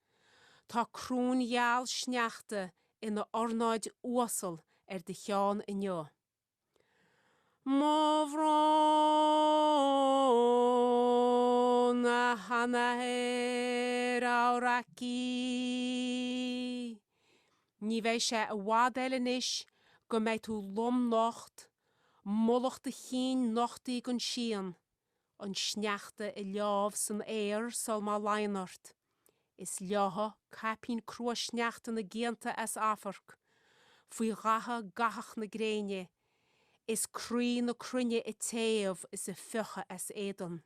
Tá coróin gheal sneachta ina ornáid uasal ar do cheann inniu. Mo bhrón a sheanathair Aoraki. Ní bheidh sé i bhfad eile anois go mbeidh tú lom nocht, mullach do chinn nochtaí don síon. An sneachta ag leámh san aer sul má luíonn ort. Is leáfaidh caipín crua sneachta na gcianta as amharc. Faoi ghatha gathach na gréine. Is croí na cruinne ag téamh is ag fiuchadh as éadan.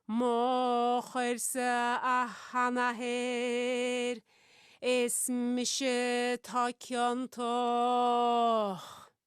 Mo choirse a sheanathair, is mise atá ciontach.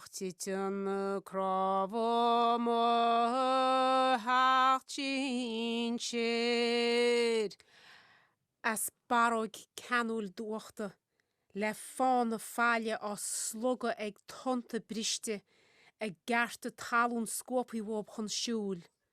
Ach titeann cnámha mo sheacht sinsir. As barróg ceanúil d'uchta, le fána faille á slogadh ag tonnta briste, a gcearta talún scuabtha uathub chun siúil.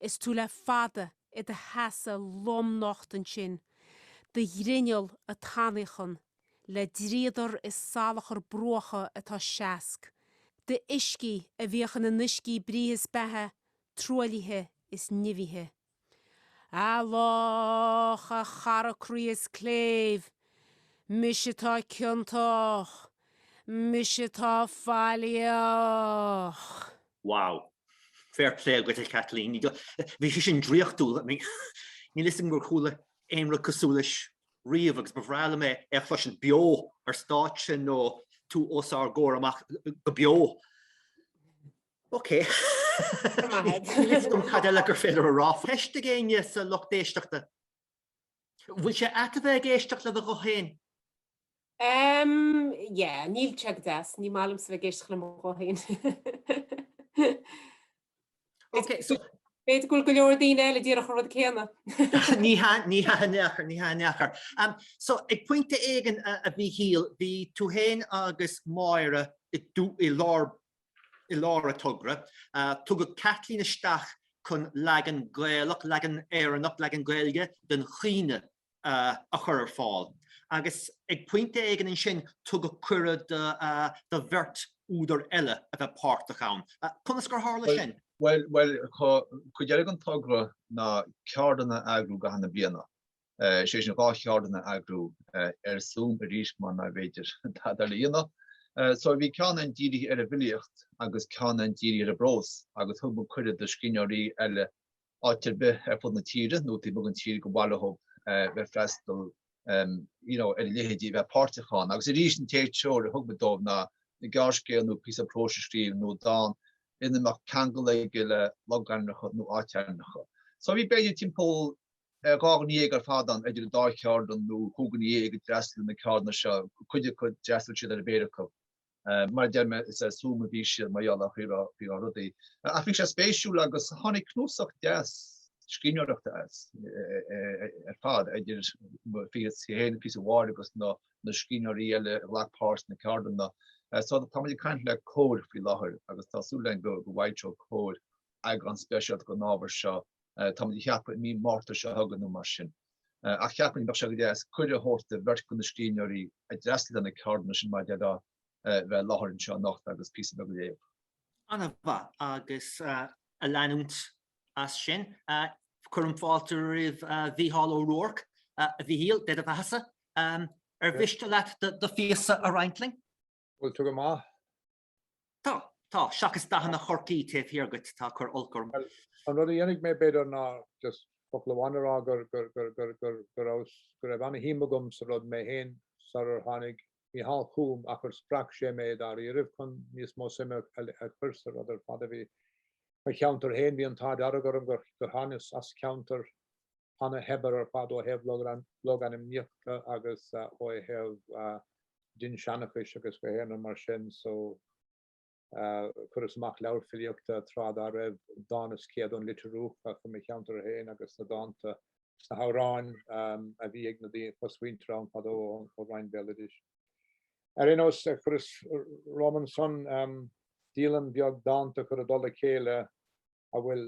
Is tú le fada i do sheasamh lomnocht ansin, do ghrinneall ag tanaíochan le dríodar is salachar bruacha atá seasc, d'uiscí a bhíodh ina n-uiscí breithe is beatha truaillithe is nimhithe. A loch, a chara croí is cléibh, mise atá ciontach, mise atá faillíoch. Wow. Fair play agat a Kathleen. Ní do- bhí sé sin draíochtúil. I mean, níl fhios agam ar chuala aon rud cosúil leis riamh agus ba bhreá liom é é a chloisint beo ar stáitse nó tú os ár gcomhair amach go beo. Ok. Go maith agat. Níl fhios agam cad eile gur féidir a rá faoi. Ceist ag éinne sa lucht éisteachta? Bhfuil sé ait a bheith ag éisteacht le do ghuth féin? Ehm, yeah, níl sé go deas, ní maith liomsa a bheith ag éisteacht le mo ghuth féin. Ok, so. B'fhéidir go bhfuil go leor daoine eile díreach an rud céanna. Ní hea, ní hea in aon chor. Ehm, so ag pointe éigin, a Mhíchíl, bhí tú féin agus Máire i lár I lár an togra, tugadh Kathleen isteach chun leagan Gaelach, leagan Éireannach, leagan Gaeilge den chaoineadh a chur ar fáil agus ag pointe éigin ansin tugadh cuireadh do bheirt údar eile a bheith páirteach ann. Conas gur tharla sin? Bhuel, cuid eile den togra ná ceardlanna a eagrú i gcaitheamh na bliana. sé sin dhá cheardlann a eagrú ar Zoom arís mar nárbh fhéidir tada eile a dhéanamh. So bhí ceann amháin dírithe ar an bhfilíocht agus ceann amháin dírithe ar an bprós agus thug muid cuireadh do scríbhneoirí eile áit ar bith ar fud na tíre nó taobh amuigh den tír gur mhaith leothub bheith freastal nó ar a laghad a bheith páirteach ann. Agus arís an t-aon treoir a thug muid dóibh ná gearrscéal nó píosa próis a scríobh nó dán ina mbeadh ceangal aige le logainmneacha nó áitainmneacha. So bhí b'fhéidir timpeall dhá dhuine dhéag ar fad ann, idir an dá cheardlann nó chúig dhuine dhéag a d'fhreastail na ceardlanna seo, cuid acu d'fhreastail siad ar an bpéire acu. Mar a deir mé is ar Zoom a bhí siad mar gheall ar an gcaoi a raibh rudaí. Ach bhí sé spéisiúil agus tháinig cnuasach deas scríbhneoireachta as ar fad, idir píosa Mháire agus na scríbhneoirí eile a ghlac páirt sna ceardlanna. So tá muid ag caint le Comhar faoi láthair agus tá súil againn go bhfoilseoidh Comhar eagrán speisialta den ábhar seo táimid ag ceapadh i mí Márta seo chugainn nó mar sin, ach cheapfainn go mbeadh sé go deas cuireadh a thabhairt do bheirt de na scríbhneoirí a d'fhreastail ar na ceardlanna sin maidir leo bheith i láthair anseo anocht agus píosa beag a léamh. An-mhaith agus ag leanúint as sin. Cuirim fáilte roimh Mhícheál Ó Ruairc, a Mhichíl, Dé do bheathasa. Ar mhiste leat do phíosa a roinnt linn? Bhuel, tá go maith. Tá, tá, seachas dathanna Chorcaí taobh thiar duit, atá ag cur olc orm. Bhuel, an rud a dhéanfaidh mé, b'fhéidir, ná just focal amháin a rá go, go raibh, go raibh ana-shuim agam sa rud mé féin sarar tháinig Mícheál chugam ach gur spreag sé mé dáiríribh chun níos mó suime a chur sa rud ar fad a bhí mo cheantar féin, bhí an t-ádh dearg orm gur thánas as ceantar. ana-shaibhir ar fad ó thaobh logainmníochta agus ó thaobh dinnseanchais agus gach aon rud mar sin so chuireas amach leabhar filíochta tráth dá raibh, Dán is Céad ón Leitriúch faoi mo cheantar féin agus na dánta is na hamhráin a bhí ag na daoine, cosmhuintir ann fadó ó Roinn Bhéaloidis. Ar aon nós chuireas romham ansan díolaim bheag dánta a chur i dtoll a chéile a bhfuil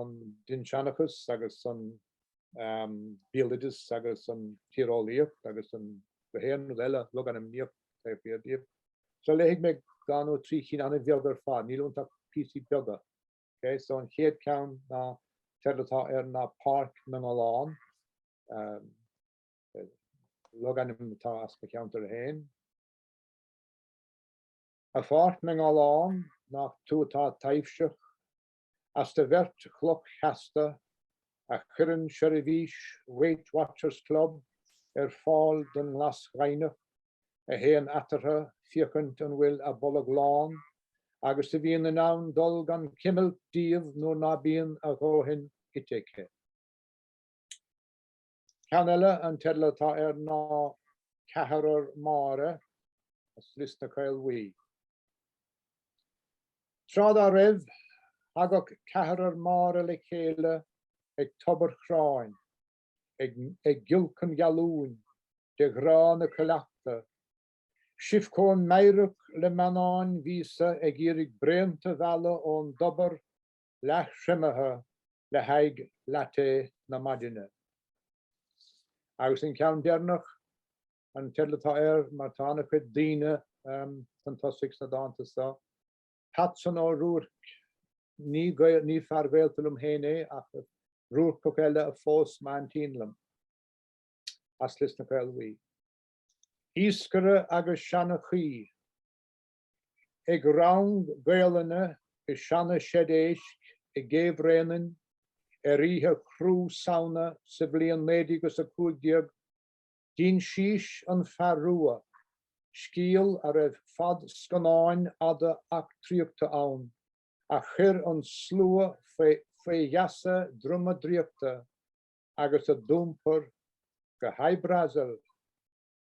an dinnseanchas agus an béaloideas agus an tíreolaíocht agus gach aon rud eile logainmníocht taobh thiar díobh. So léifidh mé dhá nó trí cinn ana-bheag ar fad, níl iontu ach píosaí beaga. Ok, so an chéad ceann an teideal atá air ná Páirc na nGallán, logainm atá as mo cheantar féin. A Pháirc na nGallán, nach tú atá taibhseach, as do bheirt chloch sheasta, a chuireann seirbhís Weight Watchers Club ar fáil don nGlas Ghaibhneach, a théann eatarthu féachaint an bhfuil a bolg lán, agus a bhíonn in ann dul gan chuimilt díobh nuair ná bíonn a dhóthain ite aici. Ceann eile, an teideal atá air ná Ceathrar Máire as Lios na Caol Bhuí. Tráth dá raibh, thagadh ceathrar Máire le chéile ag tobar Chráin, ag giolcadh an ghealúin de ghrá na cuileachta, sibh chomh meidhreach le meannáin mhíosa ag iarraidh braonta a mhealladh ón dtobar leath-thriomaithe le haghaidh latte na maidine. Agus an ceann deireanach, an teideal atá air mar tá an-chuid daoine chun tosaigh sna dánta seo, Patson Ó Ruairc, ní fear gaolta liom féin é ach Ruarcach eile a phós m'aintín liom as Lios na Caolbhuí. Iascaire agus seanchaí. ag rang Gaelainne i seana-sheid éisc i gCé Bhréanainn ar oíche ceathrú Samhna sa bhliain 1915, d'insís an fear rua, scéal a raibh fad scannáin fhada eachtraíochta ann, a chuir an slua fé gheasa droma draíochta agus a d'iompair go Hy-Brasil.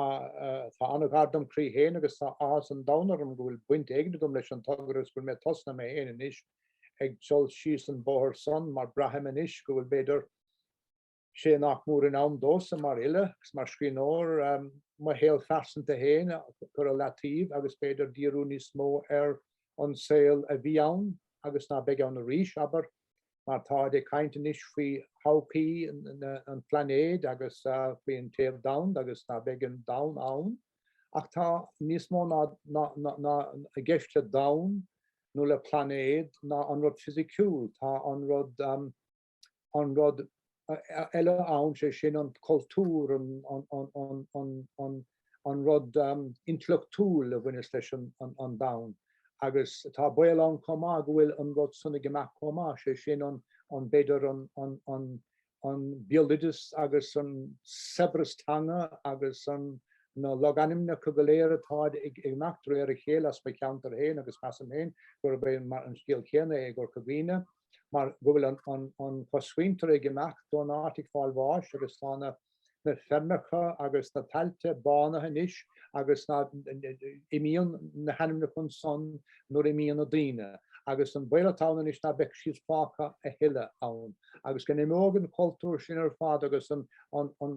Tá an-ghar dom chroí féin agus tá áthas an domhain orm go bhfuil baint éigin agam leis an togra agus go bhfuil mé tosnaithe mé féin anois ag dul síos an bóthar san mar braithim anois go bhfuil b'fhéidir sé nach mór in am domhsa mar fhile agus mar scríbhneoir um, mo shaol phearsanta féin a chur i leataobh agus b'fhéidir díriú níos mó ar an saol a bhí ann agus ná beidh ann arís, abair mar táid ag caint anois faoi thodhchaí an phlainéid agus faoi an téamh domhanda agus ná beidh an domhan ann ach tá níos mó ná i gceist le domhan nó le plainéad ná an rud fisiciúil, tá an rud um, an rud eile ann, sé sin an cultúr, an rud intleachtúil a bhaineas leis an domhan agus tá baol ann chomh maith go bhfuil an rud san ag imeacht chomh maith, sé sin an, b'fhéidir, an béaloideas agus an saibhreas teanga agus na logainmneacha go léir atá ag imeacht de réir a chéile as mo cheantar féin agus measaim féin gurb é an scéal céanna é i gCorca Dhuibhne. mar go bhfuil an chosmhuintir ag imeacht ón áit ag fáil bháis agus tá na feirmeacha agus na tailte bánaithe anois agus na imíonn na hainmneacha ansan nuair a imíonn na daoine agus an baol atá ann anois ná beidh siad fágtha a thuilleadh ann agus go n-imeoidh an cultúr sin ar fad agus an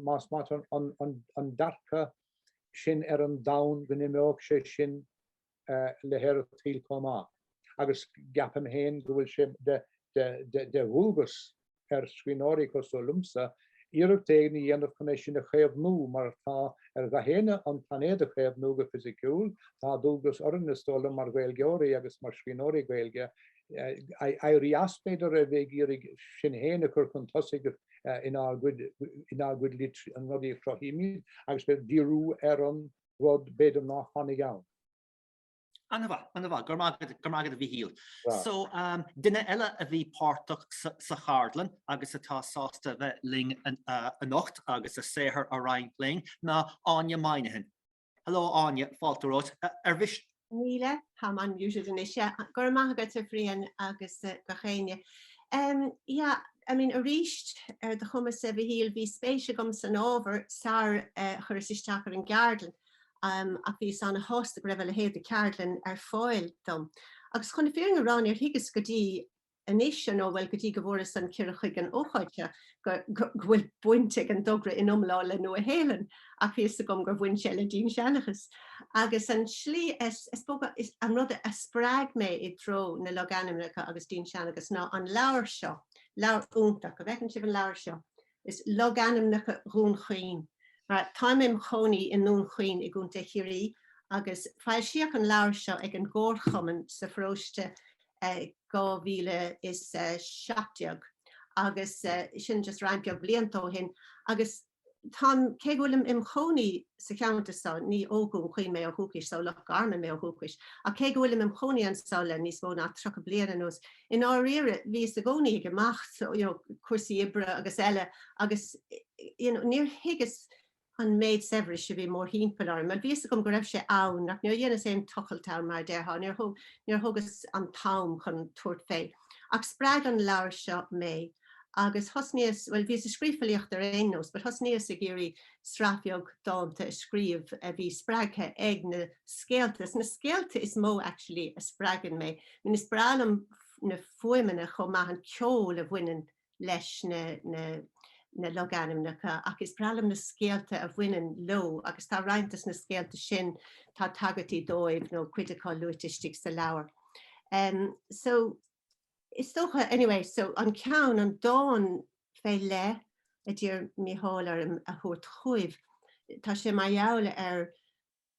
más maith leat an dearcadh sin ar an domhan go n-imeoidh sé sin le haer an tsaoil chomh maith agus ceapaim féin go bhfuil sé de dhualgas ar scríbhneoirí cosúil liomsa iarracht éigin a dhéanamh chun é sin a chaomhnú mar tá ar gach éinne an plainéad a chaomhnú go fisiciúil. Tá dualgas orainn, is dóigh liom, mar Ghaeilgeoirí agus mar scríbhneoirí Gaeilge éirí as, b'fhéidir, a bheith ag iarraidh sinn féin a chur chun tosaigh inár gcuid lit na rudaí a chruthaímid agus b'fhéidir díriú ar an rud b'fhéidir ná tháinig ann. Ana-mhaith, ana-mhaith, go raibh maith agat a Mhichíl. So, duine eile a bhí páirteach sa cheardlann agus atá sásta a bheith linn anocht agus a saothar a roinnt linn ná Áine Moynihan. Hello Áine, fáilte romhat. Ar mhiste Míle, tá man usual anois, yeah. Go raibh maith agat a Bhrian agus gach éinne. Em, yeah, I mean, arís, ar do chumasa, a Mhichíl, bhí spéis agam san ábhar sar a chuireas isteach ar an gceardlann, em, ach bhíos ana shásta go raibh a leithéid de cheardlann ar fáil dom. Agus chun na fírinne a rá, níor thuigeas go dtí anois, ar ndóigh, bhuel, go dtí go bhfuaireas an cuireadh chuig an ócáid seo, go bhfuil baint ag an dtogra ina iomláine le Nua Shéalainn, ach bhí 'fhios agam gur bhain sé le dinnseanchas. Agus an slí, is dócha, an rud a spreag mé i dtreo na logainmneacha agus dinnseanchas ná an leabhar seo, leabhar iontach, an bhfeiceann sibh an leabhar seo? Is logainmneacha Dhún Chaoin. Táim im chónaí i nDún Chaoin i gContae Chiarraí agus foilsíodh an leabhar seo ag an gComharchumann sa pharóiste 2017 agus sin just roinnt beag blianta ó shin agus táim, cé go bhfuilim im chónaí sa cheantar seo, ní ó Dhún Chaoin mé ó dhúchas, is ó Loch Garman mé ó dhúchas, ach cé go bhfuilim im chónaí anseo le níos mó ná 30 bliain anuas, I ndáiríre, bhíos i gcónaí ag imeacht, you know, cúrsaí oibre agus eile agus, you know, níor thuigeas an méid saibhris a bhí mórthimpeall orm. Mar bhí a fhios agam go raibh sé ann ach níor dheineas aon tochailt ann mar a déarfá, níor thógas an t-am chun tabhairt fé. Ach spreag an leabhar seo mé. agus thosnaíos, bhuel, bhíos ag scríobh filíochta ar aon nós, but thosnaíos ag iarraidh sraith bheag dánta a scríobh a bhí spreagtha ag na scéalta. Is na scéalta is mó actually a spreagann mé. I mean, is breá liom na fuaimeanna chomh maith, an ceol a bhaineann leis na logainmneacha ach is breá liom na scéalta a bhaineann leo agus tá roinnt des na scéalta sin, tá tagairtí dóibh nó cuid acu luaite istigh sa leabhar. So. Is dócha, anyway, so an ceann, an dán fé leith a d'iarr Mícheál orm a thabhairt chugaibh, tá sé mar gheall ar,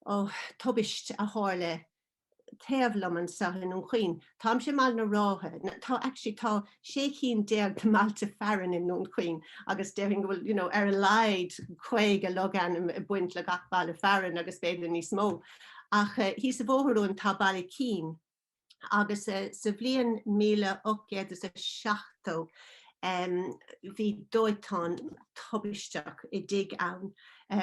ó, tubaist a tharla taobh liom anseo i nDún Chaoin. Táimse i mBaile na Rátha, no, tá, actually, tá sé chinn déag de mbailte fearainn i nDún Chaoin agus déarfainn go bhfuil, you know, ar a laghad caoga logainm ag baint le gach baile fearainn agus b'fhéidir níos mó. Ach, thíos an bóthar uaim tá Baile Ícín. agus sa bhliain míle ocht gcéad is a seachtó bhí dóiteán tubaisteach i dtigh ann,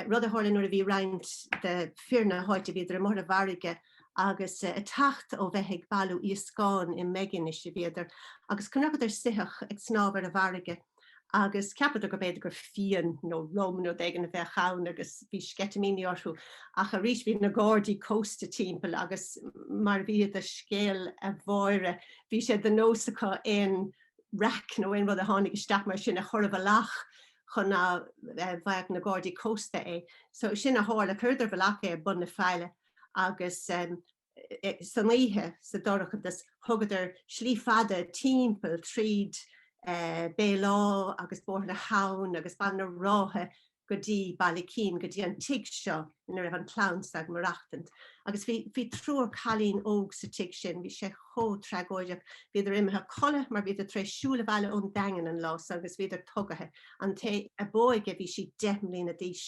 rud a tharla nuair a bhí roinnt de fir na háite, bhíodar amuigh ar an bhfarraige agus a' teacht ó bheith ag bailiú iascán, i mBeiginis a bhíodar, agus chonaiceadar soitheach ag snámh ar an bhfarraige. agus cheapadar gurb fhéidir gur fíon nó rum nó rud éigin a bheadh ann agus bhí sceitimíní orthu ach arís bhí na Gardaí Cósta timpeall agus mar a bhí i do scéal a Mháire bhí sé de nós acu aon raic nó aon rud a tháinig isteach mar sin a chur i bhfolach chun ná bhfaigheadh na Gardaí Cósta é. So sin a tharla, chuireadar i bhfolach é ag bun na faille agus eh, san oíche sa dorchadas thugadar slí fada timpeall tríd Béal Átha agus Bóthar na hAbhann agus Baile na Rátha go dtí Baile Ícín go dtí an tigh seo ina raibh an chlann seo ag maireachtaint agus bhí bhí triúr cailín óg sa tigh sin bhí sé chomh tragóideach bhíodar imithe codladh mar bhíodar tar éis siúl abhaile ón Daingean an lá san agus bhíodar tugaithe an té ab óige bhí sí deich mbliana d'aois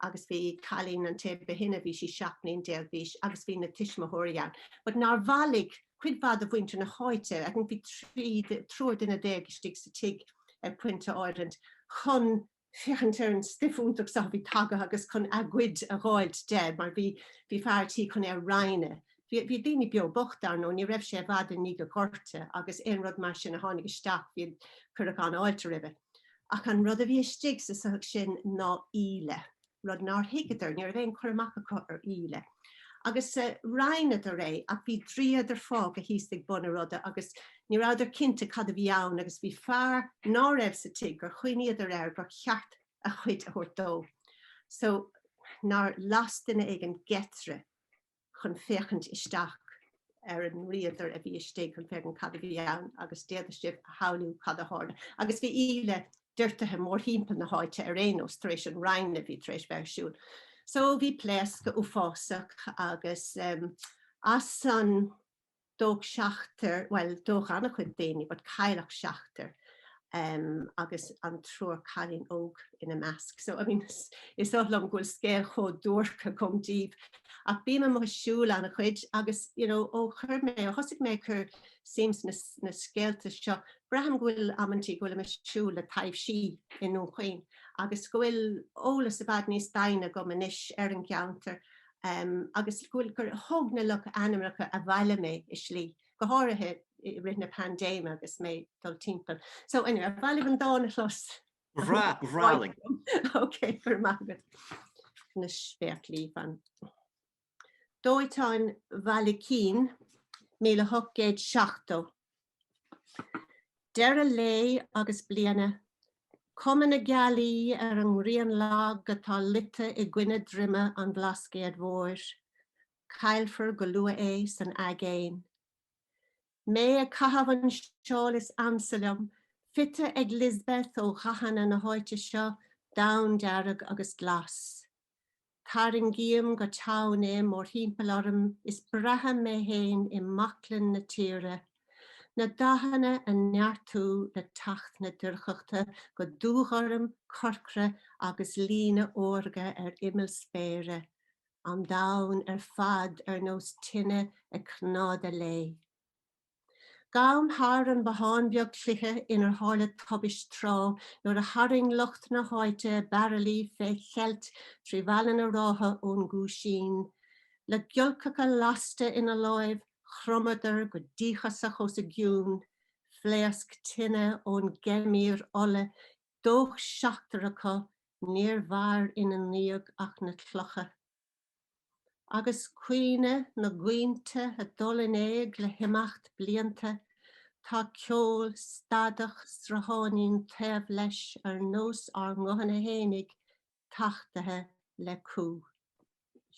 agus bhí cailín, an té ba shine, bhí sí seacht mbliana déag d'aois agus bhí na tuismitheoirí ann but nár bhailigh cuid mhaith de mhuintir na háite, I think bhí trí, triúr duine déag istigh sa tigh ag pointe áiritint, chun féachaint ar an stuif iontach seo a bhí tagtha agus chun a gcuid a dh'fháilt de mar bhí, bhí fear a' tí chun é a roinnt. Bhí, bhí daoine beo bocht dar ndóigh, ní raibh sé i bhfad i ndiaidh an Ghorta agus aon rud mar sin a tháinig isteach bhí, cuireadh an-fháilte roimhe. ach an rud a bhí istigh sa soitheach sin ná íle rud nár thuigeadar, ní raibh aon chur amach acu ar íle, agus roinneadar é ach bhí dríodar fágtha thíos ag bun a ruda agus ní rabhadar cinnte cad a bhí ann agus bhí fear ná raibh sa tigh gur chuimhníodar air gur cheart a chuid a thabhairt dó so nár las duine éigin geitire chun féachaint isteach ar an ndríodar a bhí istigh chun féachaint cad a bhí ann agus d'fhéadfadh sibh a shamhlú cad a tharla. Agus bhí íle doirtithe mórthimpeall na háite ar aon nós tar éis an roinnt a bhí tar éis bheith ar siúl. So bhí pléascadh uafásach agus as san, dódh seachtar, bhuel dódh an-chuid daoine but cailleadh seachtar agus an triúr cailín óg ina measc so I mean is oth liom go bhfuil scéal chomh duairc agam daoibh ach bím amuigh ag siúl an-chuid agus you know ó chuir mé, ó thosaigh mé ag cur suim sna scéalta seo, braithim go bhfuil amantaí go bhfuilim ag siúl le taibhsí i nDún Chaoin agus go bhfuil eolas i bhfad níos doimhne agam anois ar an gceantar agus go bhfuil gur thug na logainmneacha abhaile mé i slí, go háirithe i rith na paindéime agus mé ag dul timpeall. So anyway, ar mhaith libh an dán a chlos? Ba bhreá, ba bhreá linn. Ok, go raibh maith agat. Na spéaclaí fan. Dóiteáin Bhaile Ícín, 1870. Deireadh lae agus bliana. Cuma na gealaí ar an ngrian lag atá luite i gcoinne droime an Bhlascaoid Mhóir. Caillfear go luath é san aigéan. Mé ag caitheamh an seál is ansa liom, fite ag Lisbeth ó dhathanna na háite seo, donn, dearg agus glas. Tarraingím go teann é mórthimpeall orm is braithim mé fhéin i mbaclainn na tíre, na dathanna ag neartú le teacht na dorchachta go dúghorm, corcra agus líne órga ar imeall spéire, an domhan ar fad ar nós tine ag cnádadh léi. Gabhaim thar an bothán beag cloiche inar tharla tubaist tráth nuair a tharraing lucht na háite bairillí fé cheilt trí Bhaile na Rátha ón gCuaisín. Le giolcach lasta ina láimh, chromadar go díochasach os a gcionn. Phléasc tine ón ngeimhir ola, dódh seachtar acu, níor mhair ina ndiaidh ach na clocha. Agus cuimhne na gcaointe ag dul in éag le himeacht blianta, tá ceol stadach srutháinín taobh leis ar nós ár nguthanna fhéinig tachtaithe le cumha.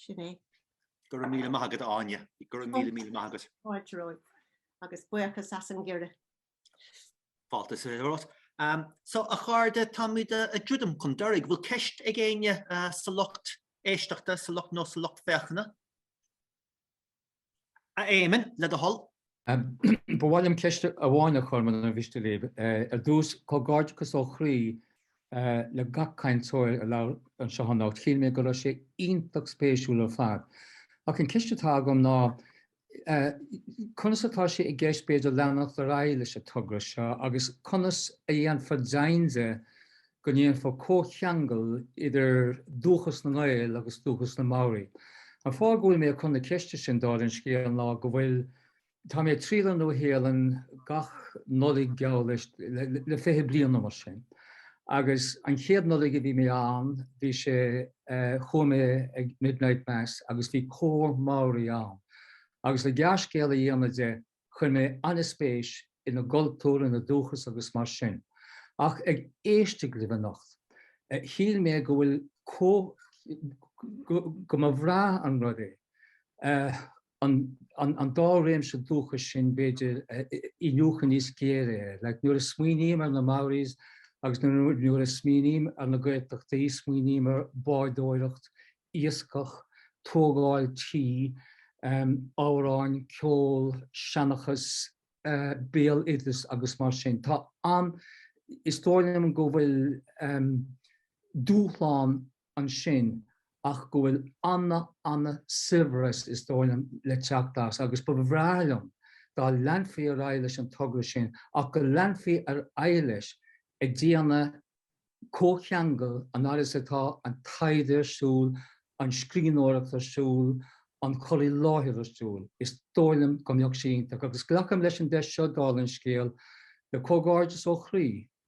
Sin é. Go raibh míle maith agat, a Áine. Go raibh míle, míle maith agat. A Phádraig. Agus buíochas as an gcuireadh. Fáilte is céad. So, a chairde, táimid ag druidim chun deiridh. Bhfuil ceist ag éinne sa lucht éisteachta, sa lucht nó sa lucht féachana? A Éamonn, le do thoil. Ba mhaith liom ceist amháin a chur, muna mhiste libh. Ar dtús, comhgairdeachas ó chroí le gach cainteoir a labhair anseo anocht. Shíl mé go raibh sé iontach spéisiúil ar fad. Ach an ceist atá agam ná, conas atá sé i gceist b'fhéidir leanacht ar aghaidh leis an togra seo agus conas a dhéanfar deimhin de go ndéanfar comhcheangal idir dúchas na nGael agus dúchas na Maori. An fáth go bhfuil mé ag cur na ceiste sin, dála an scéil, ná go bhfuil, tá mé ag triall ar Nua-Shéalainn gach Nollaig geall leis, le fiche bliain nó mar sin. agus an chéad Nollaig a bhí mé ann bhí sé, chuaigh mé ag midnight mass agus bhí cór Maori ann agus le gearrscéal a dhéanamh de chuir mé an-spéis ina gcultúr, ina dúchas agus mar sin ach ag éisteacht libh anocht shíl mé go bhfuil, go mba bhreá an rud é. an dá réimse dúchais sin, b'fhéidir, iniúchadh níos géire air. Like, nuair a smaoiním ar na Maoris agus nuair a smaoiním ar na Gaeltachtaí, smaoiním ar bhádóireacht, iascach, tógáil tí, em, amhráin, ceol, seanchas, eh, béaloideas agus mar sin. Tá an, is dóigh liom go bhfuil, em, dúshlán ansin ach go bhfuil an-an-saibhreas is dóigh liom le teacht as agus ba bhreá liom dá leanfaí ar aghaidh leis an togra sin ach go leanfaí ar aghaidh leis ag déanamh comhcheangal an oiread is atá an taighde ar siúl, an scríbhneoireacht ar siúl, an cur i láthair ar siúl. Is dóigh liom go mbeadh sé iontach agus glacaim leis an deis seo, dála an scéil, le comhghairdeas ó chroí.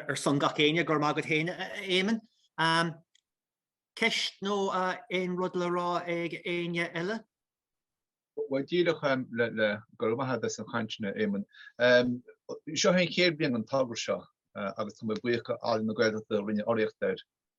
Ar son gach éinne, go raibh maith agat féin, a Éamoinn. Ceist nó aon rud le rá ag éinne eile? Bhuel, díreach le, go raibh maith agat as an chaint sin, a Éamoinn. Seo é an chéad bhliain den togra seo agus tá mé buíoch d'Ealaín na Gaeltachta a rinne urraíocht air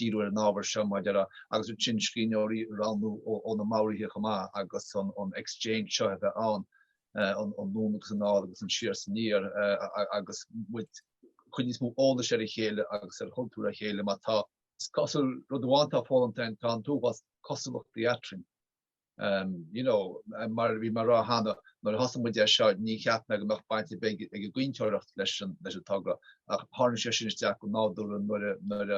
díriú ar an ábhar seo maidir le, agus ansin scríbhneoirí a roghnú ó na Maoraigh chomh maith agus an exchange seo a bheith ann, anonn agus anall agus an siar is aniar agus muid ag cur níos mó eolais ar a chéile agus ar chultúr a chéile mar tá sé cosúil, rud amháin atá foghlamtha tá an t-uafás cosúlachtaí eadrainn. Mar a bhí mé a rá cheana, nuair a thosaigh muid é seo, níor cheap mé go mbeadh baint ar bith ag an gcaointeoireacht leis an togra, ach tharraing sé sin isteach go nádúrtha nuair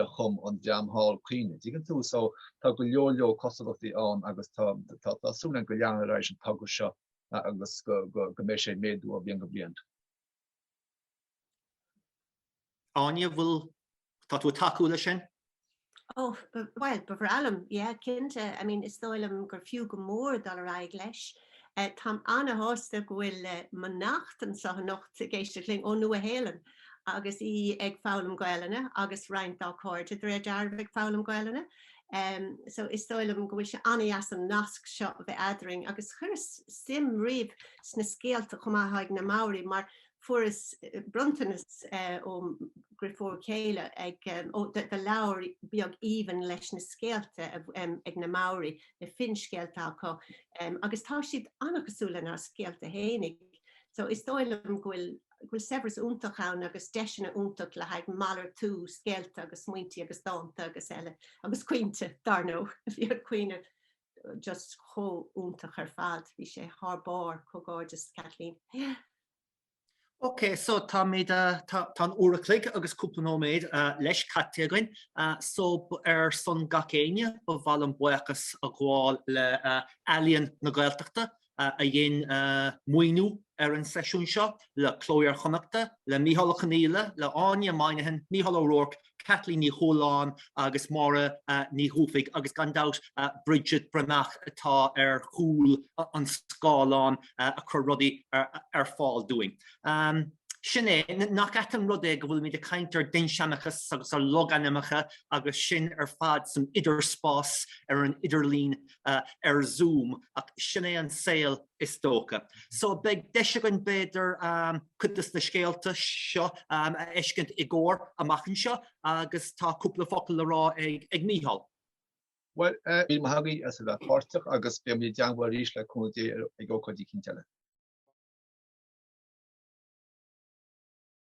a chum an dream thall caoineadh. An dtuigeann tú? So, tá go leor leor cosúlachtaí ann agus tá súil againn go leanfar ar aghaidh leis an togra seo agus go mbeidh sé ag méadú ó bhliain go bliain. Áine, bhfuil, tá tú ag tacú leis sin? Oh, bhuel, ba bhreá liom, yeah, cinnte, I mean, is dóigh liom gur fiú go mór dul ar aghaidh leis. Táim ana-shásta go bhfuil mo neacht anseo anocht ag éisteacht linn, ón Nua-Shéalainn, agus í ag foghlaim Gaolainne agus roinnt dá cairde de réir dealraimh ag foghlaim Gaolainne. So is dóigh liom go bhfuil sé ana-dheas an nasc seo a bheith eadrainn agus chuireas suim riamh sna scéalta chomh maith a thá ag na Maori mar Fuaireas bronntanas ó mo dhriofúr céile de leabhar beag aoibhinn leis na scéalta ag na Maori, na finscéalta acu agus tá siad an-chosúil lenár scéalta fhéinig so is dóigh liom go bhfuil saibhreas iontach ann agus deiseanna iontach le haghaidh malartú scéalta agus smaointe agus dánta agus eile, agus caointe dár ndóigh, bhí an caoineadh. just chomh iontach ar fad. Bhí sé thar barr comhghairdeas Kathleen. Yeah. Ok, so tá mé de, tá an uair an chloig agus cúpla nóiméad leis caite againn, so ar son gach éinne ba mhaith liom buíochas a ghabháil le Ealaín na Gaeltachta a dhein maoiniú ar an seisiún seo, le Cló Iar-Chonnachta, le Micheál Ó Conghaile, le hÁine Moynihan, Micheál Ó Ruairc, Caitlín Ní Chualáin agus Máire Ní Dhufaigh agus gan dabht Bridget Bhreathnach atá ar chúl an scáileáin ag cur rudaí ar fáil dúinn. Sin é, nach ait an rud é go bhfuilimid ag caint ar dhinnseanchas agus ar logainmneacha agus sinn ar fad san idirspás ar an idirlíon. ar Zoom ach sin é an saol is dócha. So beidh deis againn b'fhéidir cuid de na scéalta seo a fheiscint i gcomhar amach anseo agus tá cúpla focal le rá ag Micheál. Bhuel, míle maith agaibh as a bheith páirteach agus beidh muid dhá dhéanamh arís le cúnamh Dé ag ócáidí eicínt eile.